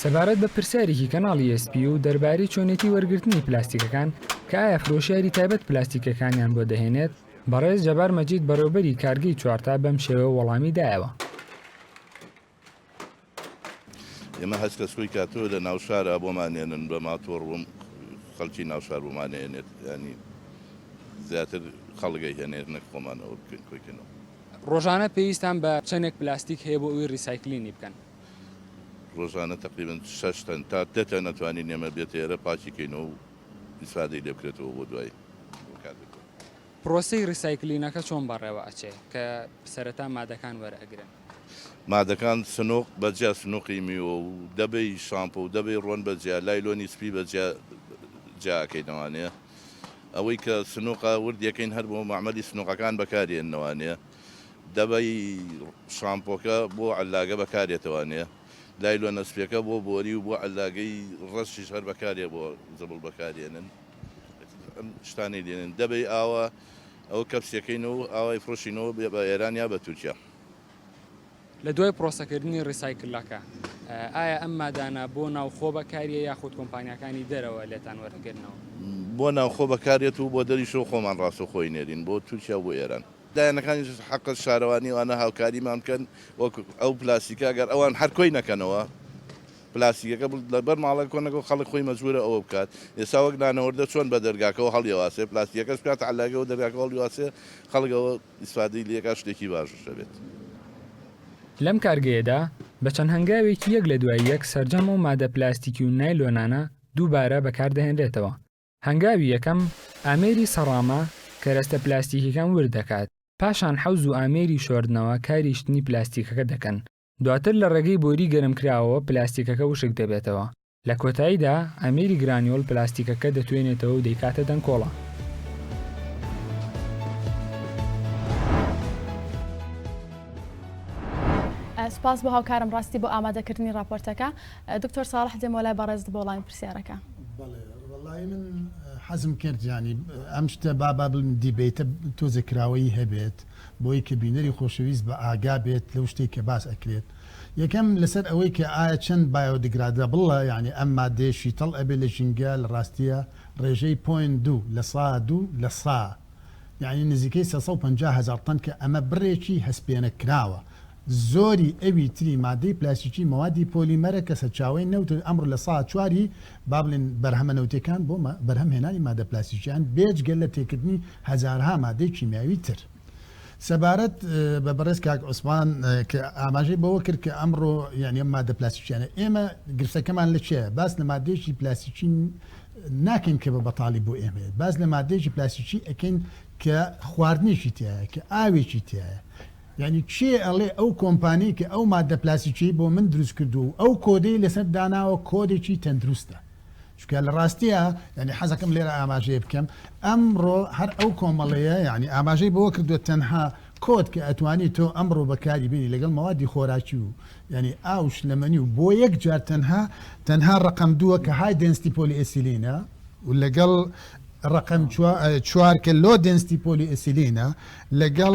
سەبارەت بە پرسیارێکی کەناڵی ئێس پی یو دەربارەی چۆنێتی وەرگرتنی پلاستیکەکان کە ئایا فرۆشیاری تایبەت پلاستیکەکانیان بۆ دەهێنێت، بەڕێز جەبار مەجید بەڕێوبەری کارگەی چوارتا بەم شێوەیە وەڵامی دایەوە. ئێمە هەچ کەس کۆی کاتەوە لە ناوشارا بۆمانێنن بە ماتۆڕ بۆم خەڵکی ناوشار بۆمانێنێت ینی زیاتر خەڵگەی هێنێت نەک خۆمانەوە بکەین کۆیکەنەوە ڕۆژانە پێویستان بە چەندێک پلاستیک هەیە بۆ ئەوی ڕیسایکلینی بکەن ڕۆژانە تقریبن شەشتەن تا دەتە نەتوانین نێمە بێت ئێرە پاچیکەینەوە و ئیسفادەی لێ بکرێتەوە بۆ دوای پرۆسی ڕیسایکلینەکە چۆن بەڕێوە ئەچێ کە سەرەتا مادەکان وەرئەگرن؟ مادەکان سنووق بە جیا سنووقی میوە و دەبەی شامپۆ و دەبەی ڕۆن بە جیا لایلۆنی سپی بە جیا جیا ئەکەینەوانێ ئەوەی کە سنووقە ورد یەکەین هەر بۆ مەعمەلی سنووقەکان بەکارێننەوانێ دەبەی شامپۆکە بۆ عەللاگە بەکارێتەوانێ لایلۆنە سپیەکە بۆ بۆری و بۆ عەللاگەی ڕەشیش هەر بەکارێ بۆ زبڵ بەکارێنن ئەم شتانەی لێنن دەبەی ئاوە ئەو کەپسیەکەینەوە ئاوای فرۆشینەوە بێ بە ئێران یا بە تورکیا لە دوای پرۆسەکردنی ڕیسایکلەکە ئایا ئەم مادانە بۆ ناوخۆ بەکاریە یاخود کۆمپانیاکانی دەرەوە لێتان وەردەگرنەوە؟ بۆ ناوخۆ بەکاریەت و بۆ دەریشەوە خۆمان ڕاستەوخۆی نێرین بۆ تورکیا و بۆ ئێران. لایەنەکانی حەق شارەوانی وانە هاوکاریمان بکەن وەک ئەو پلاستیکە گەر ئەوان هەر کۆی نەکەنەوە پلاستیکەکە لەبەر ماڵەکە کۆ نەکەن خەڵک خۆی مەجبورە ئەوە بکات ئێستا وەک نانەوەردە چۆن بە دەرگاکەوە هەڵیەواسێ پلاستیکەکەش بکاتە عەلەقەی و دەرگاکە هەڵیواسێ خەڵک ئەوە ئیسفادەی لێکا شتێکی باش دەبێت. لەم کارگەیەدا بە چەند هەنگاوێکی یەک لە دوای یەک سەرجەم ئەو مادە پلاستیکی و نایلۆنانە دووبارە بەکار دەهێنرێتەوە. هەنگاوی یەکەم، ئامێری سەڕامە کەرەستە پلاستیکیەکان ورد دەکات، پاشان حەوز و ئامێری شۆردنەوە کاری شتنی پلاستیکەکە دەکەن دواتر لە ڕێگەی بۆری گەرمکراوەوە پلاستیکەکە وشک دەبێتەوە، لە کۆتاییدا ئەمیری گرانیۆڵ پلاستیکەکە دەتوێنێتەوە و دەیکاتە دەنکۆڵە. سپاس بۆ هاوکارم ڕاستی بۆ ئامادەکردنی راپۆرتەکە دکتۆر ساڵح دێمە لای بەڕێزت بۆ وەڵامی پرسیارەکە حەزم کرد ینی ئەم شتە بابا بڵم دیبیتە تۆزێکراوەی هەبێت بۆی کە بینەری خۆشەویست بە ئاگا بێت لەو شتەی کە باس ئەکرێت یەکەم لەسەر ئەوەی کە ئایا چەند بایۆدگرادەبڵە یانی ئەم مادەیە شیتەڵ ئەبێت لە ژینگە لە ڕاستیە ڕێژەی پۆینت دوو لە سە دوو لە سە یانی نزیکەی سێ سەد و پەنجا هەزار تەن کە ئەمە بڕێکی هەستپێنەکراوە زۆری ئەوی تری مادەی پلاستیکی مەوادی پۆلیمەرە کە سەرچاوەی نەوتن، ئەمڕۆ لە سەها چوار ی با بڵێین بەرهەمە نەوتییەکان بۆ بەرهەم هێنانی مادە پلاستیکییان بێجگە لە تێکردنی هەزارها مادەی کیمیاوی تر. سەبارەت بە بەڕێز کاک عوسمان کە ئاماژەی بەوە کرد کە ئەمڕۆ یانی ئەم مادە پلاستیکییانە ئێمە گرفتەکەمان لە چیە باس لە مادەیەکی پلاستیکی ناکەین کە بە بەتاڵی بۆ ئێمەیە باس لە مادەیەکی پلاستیکی ئەکەین کە خواردنێکی تایە کە ئاوێکی تایە یانی کێ ئەڵێ ئەو کۆمپانیەی کە ئەو ماددە پلاسیکیەی بۆ من دروست کردووە و ئەو کۆدەی لەسەر داناوە کۆدێکی تەندروستە چونکە لە ڕاستیا یانی حەزەکەم لێرە ئاماژەیە بکەم ئەمڕۆ هەر ئەو کۆمەڵەیە یانی ئاماژەی بەوە کردووە تەنها کۆد کە ئەتوانی تۆ ئەمڕۆ بەکاری بێنی لەگەڵ مەوادی خۆراکی و یعنی ئاو شلەمەنی و بۆ یەک جار تەنها تەنها ڕقم دووە کە های دنستی پۆلی ئەسیلینە و لەگەڵ ڕقم چوار کە لۆ دنستی پۆلی ئەسیلینە لەگەڵ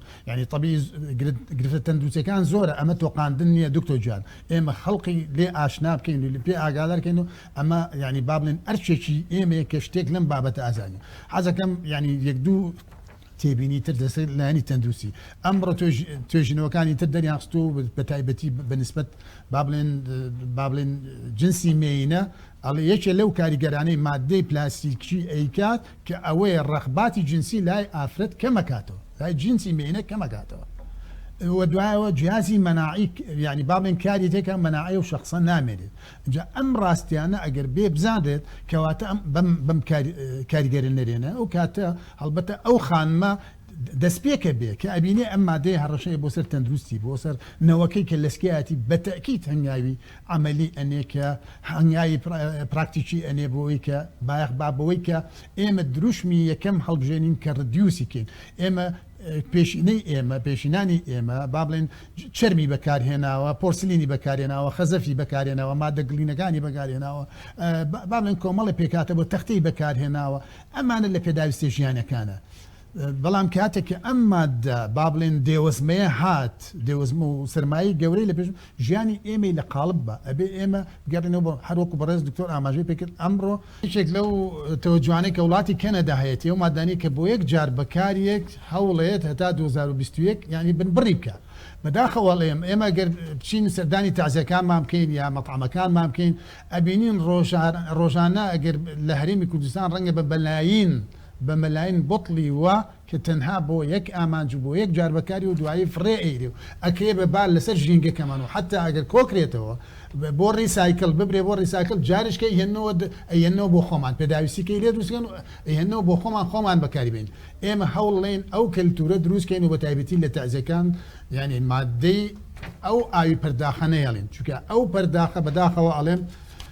یانی تەبی گرفتە تەندروستەکان زۆرە ئەمە تۆقااندن نییە دکتۆ جوان ئێمە خەڵقی لێ ئاشنا بکەین و پێ ئاگادارکەین و ئەمە ینی بابلێن ئەرچێکی ئێمەیە کە شتێک لەم بابەت ئازانی حەزەکەم ینی یەک دوو تێبینی تر دەسەر لایانی تەندروستی ئەمڕۆ توێژینەوەکانی تر دەریانخست و بە تایبەتی بەنسبت بابلێن بابلێن جنسی مێینە ئەڵێ یەکێ لەو کاریگەرانەی مادەی پلاسیکی ئەیکات کە ئەوەیە ڕەغباتی جنسی لای ئافرەت کەمەکاتەوە لای جنسی مێینە کەمەکاتەوە وە دوایەوە جیازی مەناعی یعنی با بڵێن کاری تێکە مەناعی و شخصە نامێنێت جا ئەم ڕاستیانە ئەگەر بێ بزانرێت کەواتە ئەم بەم بەم کاریگەرە نەرێنە ئەو کاتە هەڵبەتە ئەو خانمە دەست پێکە بێ کە ئەبینێ ئەم مادەی هەڕەشەیە بۆ سەر تەندروستی بۆ سەر نەوەکەی کە لەسکیایەتی بەتەکیت هەنگاوی عەمەلی ئەنێ کە هەنگاوی پراکتیکی ئەنێ بۆ ئەوەی کە بایەخ با بەوەی کە ئێمە دروشمی یەکەم هەڵبژێنین کە ردیوسی کەین ئێمە پێشینەی ئێمە پێشینانی ئێمە با بڵێن چەرمی بەکارهێناوە پۆرسلینی بەکارهێناوە خەزەفی بەکارهێناوە مادە گڵینەکانی بەکارهێناوە با بڵێن کۆمەڵێ پێکهاتە بۆ تەختەی بەکارهێناوە ئەمانە لە پێداویستە ژیانەکانە بەڵام کاتێک کە ئەم ماددە با بڵێن دێوەزمەیە هات، دێوەزمە و سەرمایەی گەورەی لە پێش ژیانی ئێمەی لە قاڵب با، ئەبێ ئێمە بگەڕێینەوە بۆ، هەر وەکوو بەڕێز دکتۆر ئاماژەی پێ کرد، ئەمڕۆ، یەکێک لەو تەوەجوهانەی کە وڵاتی کەنەدا هەیەتی، ئەو ماددانەی کە بۆ یەک جار بەکاریەت، هەوڵێت هەتا دوو هەزار و بیست و یەک یانی بن بڕی بکا. بەداخەوە ئەڵێم، ئێمە گەر بچین سەردانی تەعزیەکانمان بکەین یا مەتعەمەکانمان بکەین، ئەبینین ڕۆژانە ئەگەر لە هەرێمی کوردستان ڕەنگە بە بەلایین، بە مەلاین بوتڵی و کە تەنها بۆ یەک ئامانج و بۆ یەک جار بەکاری و دوایی فڕێ ئەیرێ و ئەکرێ بە بار لەسەر ژینگەکەمان و حەتا ئەگەر کۆکرێتەوە بۆ ڕیسایکل ببرێ بۆ ڕیساکل جاریش کە ئەیهێننەوە ئەیهێننەوە بۆ خۆمان پێداویستی کەی لێ دروست کەن و ئەیهێننەوە بۆ خۆمان خۆمان بەکاری بەین ئێمە هەوڵ لەین ئەو کەلتورە دروست کەین و بە تایبەتی لە تەعزێکان یانی مادەی ئەو ئاوی پەرداخە نەیەلین چونکە ئەو پەرداخە بەداخەوە ئەڵێم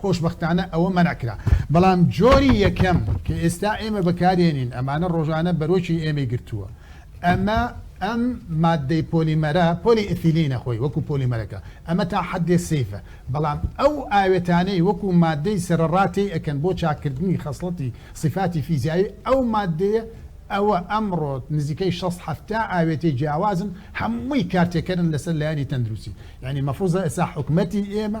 خۆشبەختانە ئەوە مەنع کرا. بەڵام جۆری یەکەم کە ئێستا ئێمە بەکاردێنین ئەمانە ڕۆژانە بەرۆکی ئێمەی گرتووە. ئەمە ئەم ماددەی پۆلیمەرە، پۆلی ئیثیلینە خۆی وەکو پۆلیمەرەکە. ئەمە تا حەدێ سەیفە. بەڵام ئەو ئاوێتانەی وەکو ماددەی سەرەڕا تێی ئەکەن بۆ چاککردنی خەسڵەتی سیفاتی فیزیایی ئەو ماددەیە، ئەوە ئەمڕۆ نزیکەی شەست حەفتا ئاوێتەی جیاوازن هەمووی کارتێکەرن لەسەر لایەنی تەندروستی. یانی مەفروزە ئێستا حکومەتی ئێمە.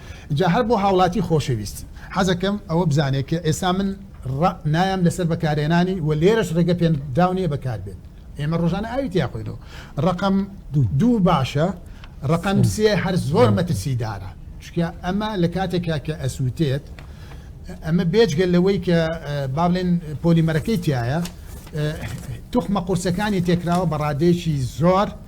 جا هەر بۆ هاوڵاتی خۆشەویست حەزەکەم ئەوە بزانێت کە ئێستا من ڕ نایەم لەسەر بەکارێنانی و لێرەش ڕێگە پێ دراو نیە بەکار بێت ئێمە ڕۆژانە ئاوی تیا خۆینەوە ڕەقەم دوو باشە ڕەقەم سێ هەر زۆر مەترسی دارە چکە ئەمە لە کاتێکا کە ئەسووتێت ئەمە بێجگە لەوەی کە با بڵێن پۆلیمەرەکەی تایە توخمە قورسەکانی تێکراوە بە ڕادێکی زۆر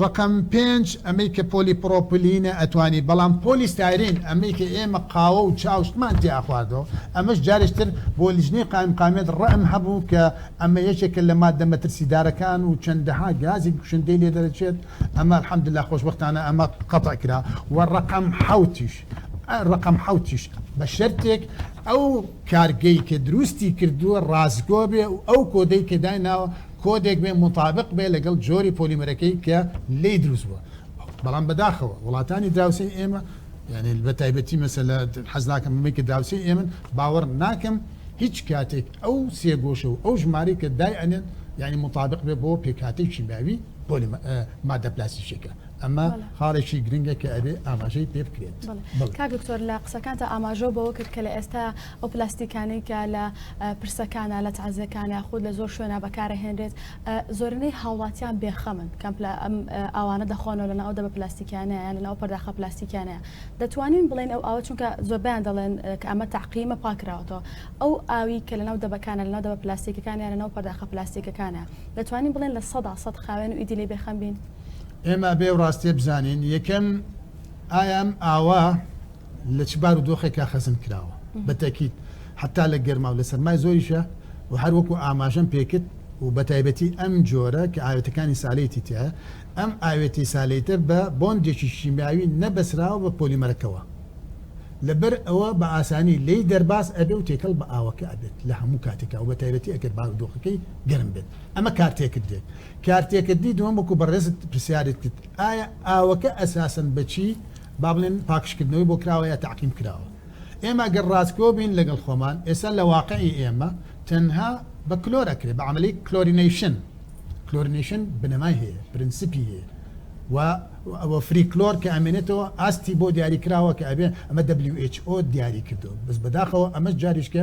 ڕەقەم پێنج ئەمەی کە پۆلی پڕۆپلینە ئەتوانی بەڵام پۆلی ستایرین ئەمەی کە ئێمە قاوە و چا و شتمان تێ ئەخواردەوە ئەمەش جارێک تر بۆ لیجنەی قائیمقامیەت ڕئم هەبوو کە ئەمە یەکێکە لە ماددە مەترسیدارەکان و چەندەها گازی کوشندەی لێ دەرەچێت ئەمە الحمدللە خۆشبەختانە ئەمە قەتع کرا و ڕەقەم حەوتیش ڕەقەم حەوتیش بە شەرتێک ئەو کارگەی کە دروستی کردووە ڕاستگۆ بێ و ئەو کۆدەی کە دایناوە کۆدێک بێ موتابق بێ لەگەڵ جۆری پۆلیمەرەکەی کە لێی دروست بووە بەڵام بەداخەوە وڵاتانی دراوسێی ئێمە یعنی بە تایبەتی مەسەلە حەز ناکەم بمەی کە دراوسێی ئێمن باوەڕ ناکەم هیچ کاتێک ئەو سێگۆشە و ئەو ژمارەی کە دای ئەنێن یعنی مطابق بێ بۆ پێکاتێکی باوی پۆلی مادە پلاسیشێکە ئەمە خاڵێکی گرنگە کە ئەبێ ئاماژەی پێ بکرێت کاک دکتۆر لە قسەکانتە ئاماژۆ بەوە کرد کە لە ئێستا ئەو پلاستیکانەی کە لە پرسەکانە لە تازەکانە خود لە زۆر شوێنە بەکارە هێنرێت زۆرنەی هاوڵاتیان بێخەمن کەم ئەوانە دەخۆنەوە لە ناو دە بە پلاستیکیانەیە لە ناو پەرداخە پلاستیکیانەیە دەتوانین بڵێن ئەو ئاوە چونکە زۆربیان دەڵێن کە ئەمە تاقیمە پاکراوەتەوە ئەو ئاوی کە لە ناو دەبەکانە لە ناو دەبە پلاستیکەکانیان لە ناو پەرداخە پلاستیکەکانە دەتوانین بڵێن لە سەدا سەد خاوێن و ئیدی لێ بێخەم بین ئێمە ئەبێ ئەو ڕاستیە بزانین یەکەم ئایام ئاوا لە چ بار و دۆخێکا خەزن کراوە بەتەکیت حتا لە گەرما و لە سەرمای زۆریشە و هەر وەکو ئاماژەم پێکرد و بە تایبەتی ئەم جۆرە کە ئاوێتەکانی سالێتی تیا ئەم ئاوێتی سالێتە بە بۆندێکی شیمیاوی نەبەسراوە بە پۆلیمەرەکەەوە لەبەر ئەوە بە ئاسانی لی دەرباز ئەبێ و تێکەڵ بە ئاوەکە ئەبێت لە هەموو کاتێکا و بە تایبەتی ئەگەر باودۆخەکەی گەرم بێت ئەمە کارتێکردێت کارتێکردنی دووەم وەکو بەڕێزت پرسیارت کرد ئایا ئاوەکە ئەساسەن بەچی با بڵێن پاکژکردنەوەی بۆ کراوە یا تەعقیم کراوە ئێمە گەر ڕاستگۆ بین لەگەڵ خۆمان ئێستا لە واقعی ئێمە تەنها بە کلۆر ئەکرێ بە عەمەلەی کلۆرینەیشن کلۆرینەیشن بنەمای هەیە پرنسپی هەیە و ئەوە فری کلۆر کە ئەمێنێتەوە ئاستی بۆ دیاری کراوە کە ئەبێ ئەمە WHO دیاری کردو بەس بەداخەوە ئەمەش جاریشکە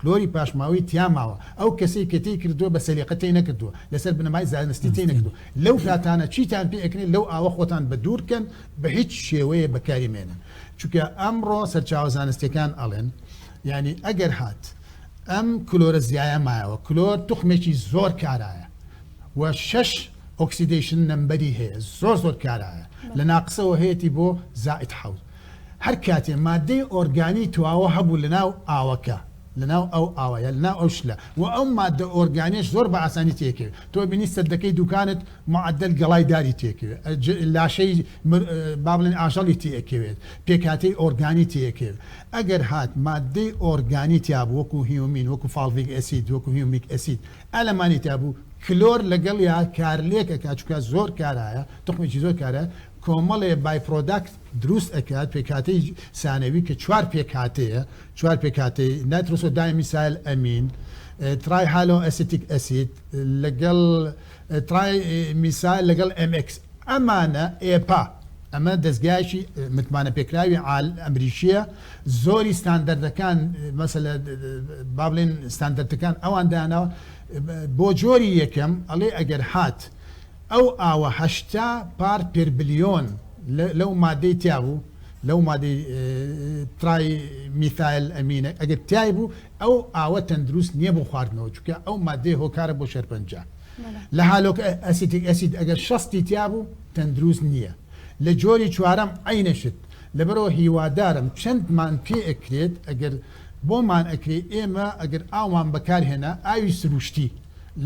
کلۆری پاشماوەی تیا ماوە، ئەو کەسەی کە تێی کردووە بە سەلیقە تێی نەکردووە، لەسەر بنەمای زانستی تێی نەکردووە، لەو کاتانە چیتان پێ ئەکنێ لەو ئاوە خۆتان بە دوور کەن بە هیچ شێوەیێ بەکاری مەێنن چونکە ئەمڕۆ سەرچاوە زانستیەکان ئەڵێن یانی ئەگەر هات ئەم کلۆرە زیایە مایەوە کلۆر توخمێکی زۆر کارایە و شەش ئۆکسیدەیشن نەمبەری هەیە زۆر زۆر کارایە لە ناقسەوە هەیەتی بۆ زائید حەوت هەر کاتێ ماددەی ئۆرگانی تواوە هەبوو لەناو ئاوەکە، لەناو ئەو ئاوە یا لەناو ئەو شلە و ئەو ماددە ئۆرگانیەش زۆر بە ئاسانی تێکەوێ. تۆ ئەبینی سەددەکەی دووکانت معەدەل گەڵای داری تێکەوێ، لاشەی مر با بڵێن ئاژەڵی تێکەوێت، پێکهاتەی ئۆرگانی تێکەوێ. ئەگەر هات ماددەی ئۆرگانی تیابوو وەکوو هیومین، وەکوو فاڵڤیک ئەسید، وەکوو هیومیک ئەسید، ئەلەمانی تیابوو، کلۆر لەگەڵیا کارلێک ئەکا چونکە زۆر کارایە، توخمێکی زۆر کارایە. کۆمەڵێ بای پرۆداکت دروست ئەکات پێکهاتەی سانەوی کە چوار پێکهاتەیە چوار پێکهاتەی نایترۆسۆ دایمیسایل ئەمین ترای هالۆ ئەسیتیک ئەسید لەگەڵ ترای میسایل لەگەڵ ئەم ئێکس ئەمانە ئێپا ئەمە دەستگایکی متمانە پێکراوی عال ئەمریکیە زۆری ستاندەردەکان مەسەلە بابلین ستاندەرتەکان ئەوان داناوە بۆ جۆری یەکەم ئەڵێ ئەگەر هات ئەو ئاوە هەشتا پارت پێر بلیۆن لەو مادەی تیا بوو، لەو مادەی ترای میثایل ئەمینە ئەگەر تای بوو ئەو ئاوە تەندروست نیە بۆ خواردنەوە چونکە ئەو مادەیە هۆکارە بۆ شێرپەنجە. لە هالۆک ئەسیتیک ئەسید ئەگەر شەستی تیا بوو تەندروست نیە. لە جۆری چوارەم عەینە شت. لەبەرئەوە هیوادارم چەندمان پێ ئەکرێت ئەگەر بۆمان ئەکرێ ئێمە ئەگەر ئاومان بەکار هێنا ئاوی سروشتی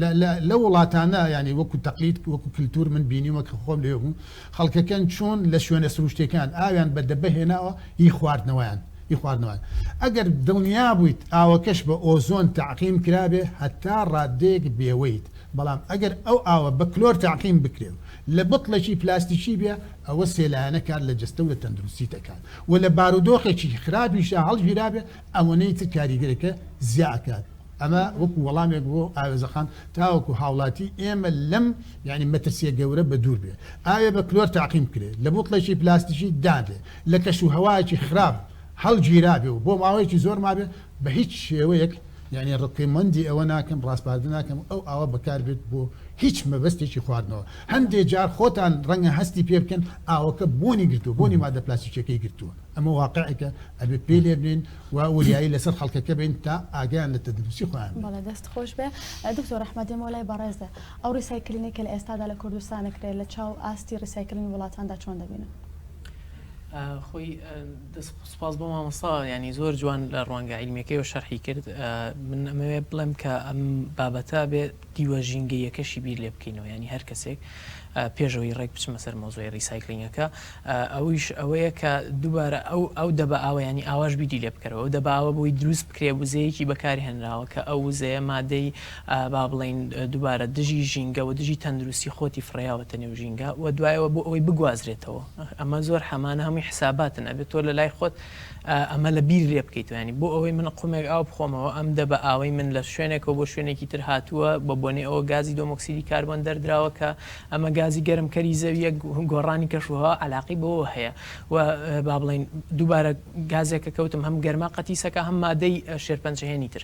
لە لە لە وڵاتانە یانی وەکو تەقلید وەکو کلتور من بینیومە کە خۆم لەوێ بووم خەڵکەکەن چۆن لە شوێنە سروشتیەکان ئاویان بە دەبە هێناوە هی خواردنەوەیان هی خواردنەوەیان ئەگەر دڵنیا بوویت ئاوەکەش بە ئۆزۆن تەعقیم کرابێ هەتا ڕاددەیەک بێوەیت بەڵام ئەگەر ئەو ئاوە بە کلۆر تەعقیم بکرێ و لە بتڵێکی پلاستیکی بێ ئەوە سێ لایەنە کار لە جەستە و لە تەندروستی دەکات و لە بارودۆخێکی خراپیشا هەڵگیرابێ ئەوەنەی تر کاریگەریەکە زیا ئەکات ئەمە وەکو وەڵامێک بۆ ئاوێزەخان تاوەکو هاوڵاتی ئێمە لەم یانی مەترسیە گەورە بە دوور بێ ئاوێ بە کلۆر تاقیم بکرێ لە بوتڵێکی پلاستیکی دابێ لە کەش و هەوایەکی خراپ هەڵگیرابێ و بۆ ماوەیەکی زۆر مابێ بە هیچ شێوەیەک یانی ڕکۆمەندی ئەوە ناکەم ڕاسپاردە ناکەم ئەو ئاوە بەکار بێت بۆ هیچ مەبەستێکی خواردنەوە هەندێ جار خۆتان ڕەنگە هەستی پێ بکەن ئاوەکە بۆنی گرتووە بۆنی مادە پلاستیکیەکەی گرتووە ئەمە واقعێکە ئەبێ پێ لێ بنێن و وریایی لەسەر خەڵکەکە بین تا ئاگیان لە تەندروستی خۆیان بێت. بەڵێ دەست خۆش بێ دکتۆر ڕەحمەت دێمەوە لای بەڕێزت ئەو ڕیسایکلینەی کە لە ئێستادا لە کوردستان ئەکرێ لە چاو ئاستی ڕیسایکلینی وڵاتاندا چۆن دەبینن؟ خۆی دەست خۆش سوپاس بۆ مامۆستا یانی زۆر جوان لە ڕوانگە عیلمیەکەیەوە شەرحی کرد من ئەمەوێ بڵێم کە ئەم بابەتە بێ دیوە ژینگەیەکەشی بیر لێ بکەینەوە ینی هەر کەسێک پێشەوەی ڕێک بچمە سەر مۆزۆی ریسایکلینگەکە ئەویش ئەوەیە کە دووبارە ئەو ئەو دەبە ئاوەیانی ئاواش بیدی لێ بکەرەوە دەباوە بۆی دروست بکرێ وزەیەکی بەکاری هەنراوە کە ئەو وزەیە مادەی با بڵێین دووبارە دژی ژینگە و دژی تەندروستی خۆتی فڕێیاوەتە نێو ژینگە و دوایەوە بۆ ئەوەی بگوازرێتەوە ئەمە زۆر حەمانە هەمووی حساباتن ئەبێت تۆ لە لای خۆت ئەمە لە بیر لێ بکەیتەوە یانی بۆ ئەوەی من قومێک ئاو بخۆمەوە ئەم دەبە ئاوەی من لە شوێنێکەوە بۆ شوێنێکی تر هاتووە بە بۆنەی ئەوە گازی دۆمۆکسیدی کاربۆن دەردراوە کە ئەمە گازی گەرمکەری زەوییە گۆڕانی کەشوهەوا عەلاقەی بەوەوە هەیە و با بڵێین دووبارە گازێکە کەوتم هەم گەرما قەتیسەکە هەم مادەی شێرپەنجهێنی تر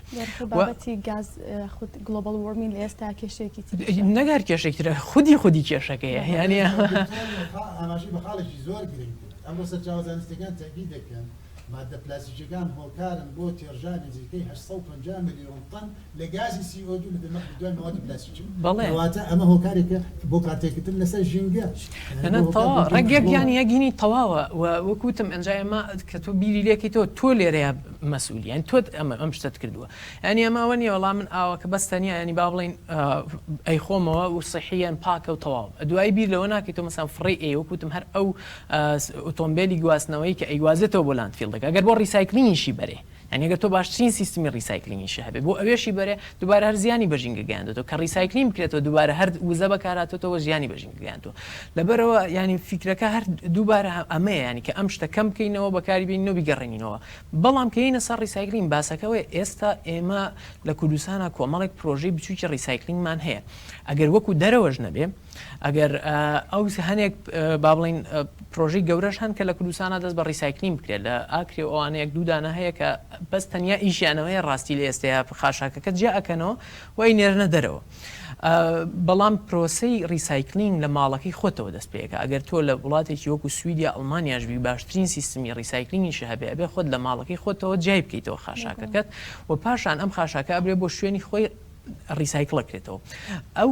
نەگار کێشێکترە خودی خودی کێشەکەیە یانە ئەمە سەرچاو زانستەکان تەبی دەکەن مادە پلاسیکەکان هۆکارن بۆ تێرژانی نزیکەی 850 میلیۆن تەن لە گازی سی ئۆ دوو لە دەمەخ بدوای مەوادی پلاسیکی بەڵێ کەواتە ئەمە هۆکارێکە بۆ کارتێکردن لەسەر ژینگە نەنە تەوا ڕەگێک یان یەگینی تەواوە و وەکوتم ئەنجا ئێمە کە تۆ بیری لێکەیتەوە تۆ لێرەیە مەسئولی یان تۆت ئەمە ئەم شتت کردووە یانی ئەمە ئەوە نیە وەڵام من ئاوە کە بەس تەنیا ینی با بڵین ئەی خۆمەوە و سەحیەن پاکە و تەواو دوایی بیر لەوە ناکەی تۆ مەسان فڕی ئێ وەکوتم هەر ئەو ئۆتۆمبیلی گواستنەوەی کە ئەیگوازێتەوە بۆ لاندفیلدەکە گەر بۆ ڕیسایکلینیشی بەرێ یانی ئەگەر تۆ باشترین سیستمی ڕیسایکلینگیشی هەبێت بۆ ئەوێشی بەرێ دوبارە هەر زیانی بە ژینگە گەیاندۆتەوە کە ڕیسایکلین بکرێتەوە دوبارە هەر وزە بەکارهاتۆتەوە زیانی بە ژینگە گەیاندوە لەبەرەوە یانی فیکرەکە هەر دوبارە ئەمەیە یانی کە ئەم شتە کەم بکەینەوە بەکاری بینەوە بیگەڕێنینەوە بەڵام کە یینە سەر ڕیسایکلین باسەکە ئەوەیە ئێستا ئێمە لە کوردستانا کۆمەڵێک پرۆژەی بچوکی ڕیسایکلینگمان هەیە ئەگەر وەکو دەرەوەش نەبێ ئەگەر ئەو هەنێک با بڵین پرۆژەی گەورەش هەن کە لە کوردستانە دەست بە ڕیسایکلین بکرێت لە ئاکرێ و ئەوانەیەک دوودانە هەیە کە بەس تەنیا ئیشیانەوەیە ڕاستی لە ئێستەیە خاشاکەکە جیا ئەکەنەوە وای نێرنە دەرەوە بەڵام پرۆسی ڕیسایکلینگ لە ماڵەکەی خۆتەوە دەست پێەکە ئەگەر تۆ لە وڵاتێکی وەکو سویدیا ئەڵمانیاشبی باشترین سیستمی ڕیسایکلینگیش هەبێ ئەبێ خۆت لە ماڵەکەی خۆتەوە جای بکەیتەوە خاشاکەکەت و پاشان ئەم خاشاکە ئەبرێ بۆ شوێنی خۆی ڕیسایکڵ ئەکرێتەوە ئەو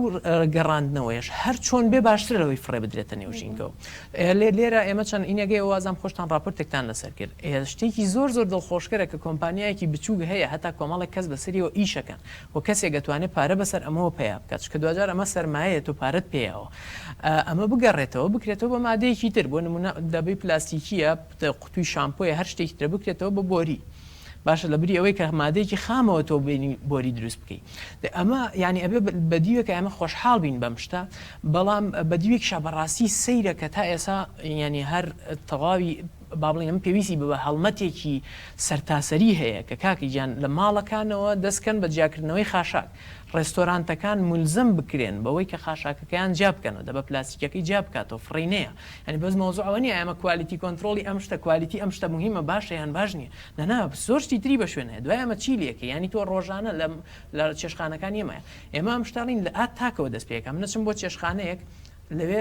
گەڕاندنەوەیەش هەر چۆن بێ باشترە لەوەی فڕێ بدرێتە نێو ژینگەوە لێ لێرە ئێمە چەند ئینەگەی وازام خۆشتان ڕاپۆرتێکتان لەسەر کرد شتێکی زۆر زۆر دڵخۆشکەرە کە کۆمپانیایەکی بچووک هەیە هەتا کۆمەڵێک کەس بەسەریەوە ئیشەکەن و کەسێک گەتوانێت پارە بەسەر ئەمەوە پیا بکات چکە دواجار ئەمە سەرمایەیە تۆ پارەت پێیەوە ئەمە بگەڕێتەوە بکرێتەوە بە مادەیەکی تر بۆ نمونە دەبی پلاستیکیە قوتوی شامپۆیە هەر شتێکی ترە بکرێتەوە بە بۆری باشە لە بری ئەوەی کە مادەیەکی خامەوە تۆ بینی بۆری دروست بکەی ئەمە یعنی ئەبێ بە دیوێکە ئەمە خۆشحاڵ بین بەم شتە بەڵام بە دیوێک شە بەڕاستی سەیرە کە تا ئێسا ینی هەر تەواوی بابلینم پێویستی بە هەڵمەتێکی سەرتاسەری هەیە کە کاکی گیان لە ماڵەکانەوە دەستکەن بە جیاکردنەوەی خاشاک ڕێستۆرانتەکان ملزم بکرێن بەوەی کە خاشاکەکەیان جیا بکەنەوە دەبە پلاسیکەکەی جیا بکاتەوە فڕینەیە یانی بەس مەوزوع ئەوە نیە ئەمە کوالیتی کۆنترۆڵی ئەم شتە کوالیتی ئەم شتە موهیمە باشە یان باش نیە نانا زۆر شتی تری بەشوێن هەیە دوای ئەمە چی لەکەی یانی تۆ ڕۆژانە لە لە چێشخانەکان یەمە ئێمە ئەم شتە ڕین لە ئا تاکەوە دەست پێکەم نەچم بۆ چێشخانەیەک لەوێ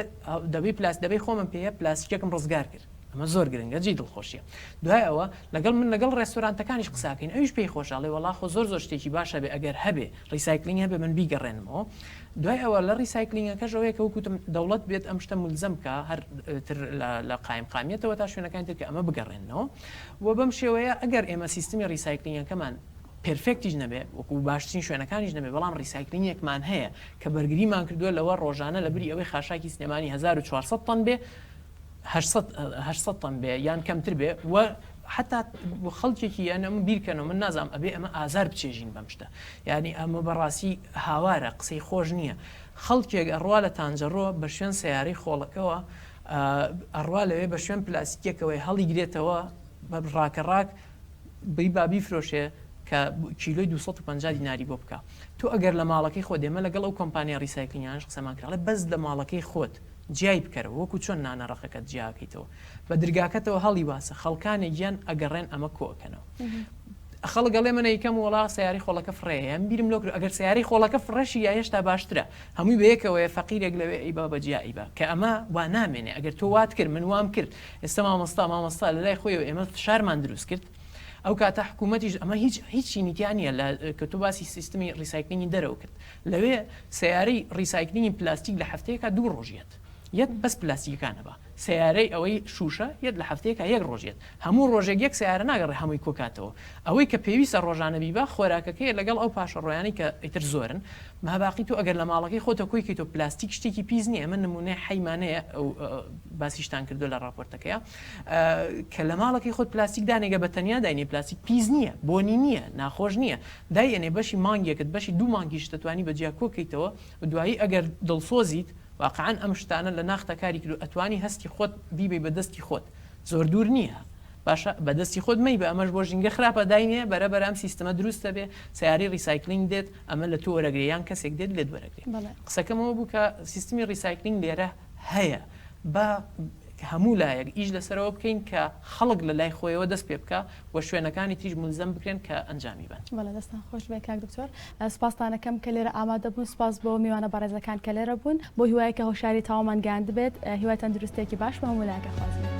دەبی پلاس دەبی خۆمم پێیە پلاسیکەکەم ڕزگار کرد ئەمە زۆر گرنگە جێی دڵخۆشیە دوای ئەوە لەگەڵ من لەگەڵ ڕێستۆرانتەکانیش قساکەین ئەویش پێی خۆشە ئەڵێ وەڵا خۆ زۆر زۆر شتێکی باشە بێ ئەگەر هەبێ ڕیسایکلینگ هەبێ من بیگەڕێنمەوە دوای ئەوە لە ڕیسایکلینگەکەش ئەوەیە کە وەک وتم دەوڵەت بێت ئەم شتە مولزەم بکا هەر تر لە قایمقامیەتەوە تا شوێنەکانی تر کە ئەمە بگەڕێننەوە و بەم شێوەیە ئەگەر ئێمە سیستمی ڕیسایکلینگەکەمان پێرفێکتیش نەبێ وەکو باشترین شوێنەکانیش نەبێ بەڵام ڕیسایکلینگێکمان هەیە کە بەرگریمان کردووە لەوە ڕۆژانە لە بری ئەوەی خاشاکی سلێمانی هەزار و چوار سەد تەن بێ هەشت هەشت سەد تەن بێ یان کەمتر بێ و حتا خەڵکێکی یانە من بیرکەنەوە من نازانم ئەبێ ئەمە ئازار بچێژین بەم شتە یعنی ئەمە بەڕاستی هاوارە قسەی خۆش نییە خەڵکێک ئەڕوا لە تانجەڕۆ بە شوێن سیارەی خۆڵەکەەوە ئەڕوا لەوێ بە شوێن پلاسیکێکەوەی هەڵیگرێتەوە بە ڕاکە ڕاک بی بابی فرۆشێ کە کیلۆی 250 دیناری بۆ بکە تۆ ئەگەر لە ماڵەکەی خۆ دێمە لەگەڵ ئەو کۆمپانیا ریسایکلینیانش قسەمان کراڵێ بەس لە ماڵەکەی خۆت جیای بکەرەوە وەکو چۆن نانە ڕەقەکەت جیا ئەکەیتەوە بە درگاکەتەوە هەڵی واسە خەڵکانێک یان ئەگەڕێن ئەمە کۆ ئەکەنەوە خەڵک ئەڵێ من ئەیکەم وەڵا سەیارەی خۆڵەکە فڕێیە یان بیرم لۆ کرد ئەگەر سەیارەی خۆڵەکە فڕێشی یا هێشتا باشترە هەمووی بە یەکەوەیە فەقیرێک لەوێ ئەی با بە جیا ئەی با کە ئەمە وا نامێنێ ئەگەر تۆ وات کرد من وام کرد ئێستا مامۆستا مامۆستا لەلای خۆیەوە ئێمە فشارمان دروست کرد ئەو کاتە حکوومەتیش ئەمە هیچ هیچی نیگا نییە لە کە تۆ باسی سیستمی ڕیسایکلینگی دەرەوە کرد لەوێ سەیارەی ڕیسایکلینگی پلاستیک لە هەفتەیەکا دوو ڕۆژ یەت یەت بەس پلاستیکەکان ئەبا سەیارەی ئەوەی شوشە یەت لە هەفتەیەکا یەک ڕۆژ یەت هەموو ڕۆژێک یەک سەیارە ناگەڕێ هەمووی کۆکاتەوە ئەوەی کە پێویستە ڕۆژانە بیبا خۆراکەکەیە لەگەڵ ئەو پاشەڕۆیانەی کە ئیتر زۆرن ماباقی تۆ ئەگەر لە ماڵەکەی خۆتە کۆی کەیتۆ پلاستیک شتێکی پیس نیە ئەمە نمونەی حەی مانەیە ئەو باسیشتان کردوە لە ڕاپۆرتەکەیا کە لە ماڵەکەی خۆت پلاستیک دانێگە بە تەنیا داینێ پلاستیک پیس نیە بۆنی نیە ناخۆش نیە دایئەنێ بەشی مانگێکت بەشی دوو مانگیشت دەتوانی بە جیا کۆکەیتەوە و دوایی ئەگەر دڵسۆزیت واقعەن ئەم شتانە لە ناختا کاری کردوە ئەتوانی هەستی خۆت بیبەی بە دەستی خۆت زۆر دوور نیە باشە بە دەستی خۆت مەیبە ئەمەش بۆ ژینگە خراپە داینێ بەرە بەرە ئەم سیستمە دروست ئەبێ سەیارەی ڕیسایکلینگ دێت ئەمە لە تۆ وەرەگرێ یان کەسێک دێت لێت وەرەگرێ قسەکەم ئەوە بوو کە سیستمی ڕیسایکلینگ لێرە هەیە با هەموو لایەک ئیش لەسەرەوە بکەین کە خەڵک لە لای خۆیەوە دەست پێ بکا و شوێنەکانی تریش مولزەم بکرێن کە ئەنجامی بەن. بەڵێ دەستان خۆش بێ کاک دکتۆر سوپاستان ئەکەم کە لێرە ئامادە بوون سوپاس بۆ میوانە بەڕێزەکان کە لێرە بوون بۆ هیوای کە هۆشیاری تەواومان گەیاندبێت هیوای تەندروستێکی باش بۆ هەموو لایەک ئەخوازین.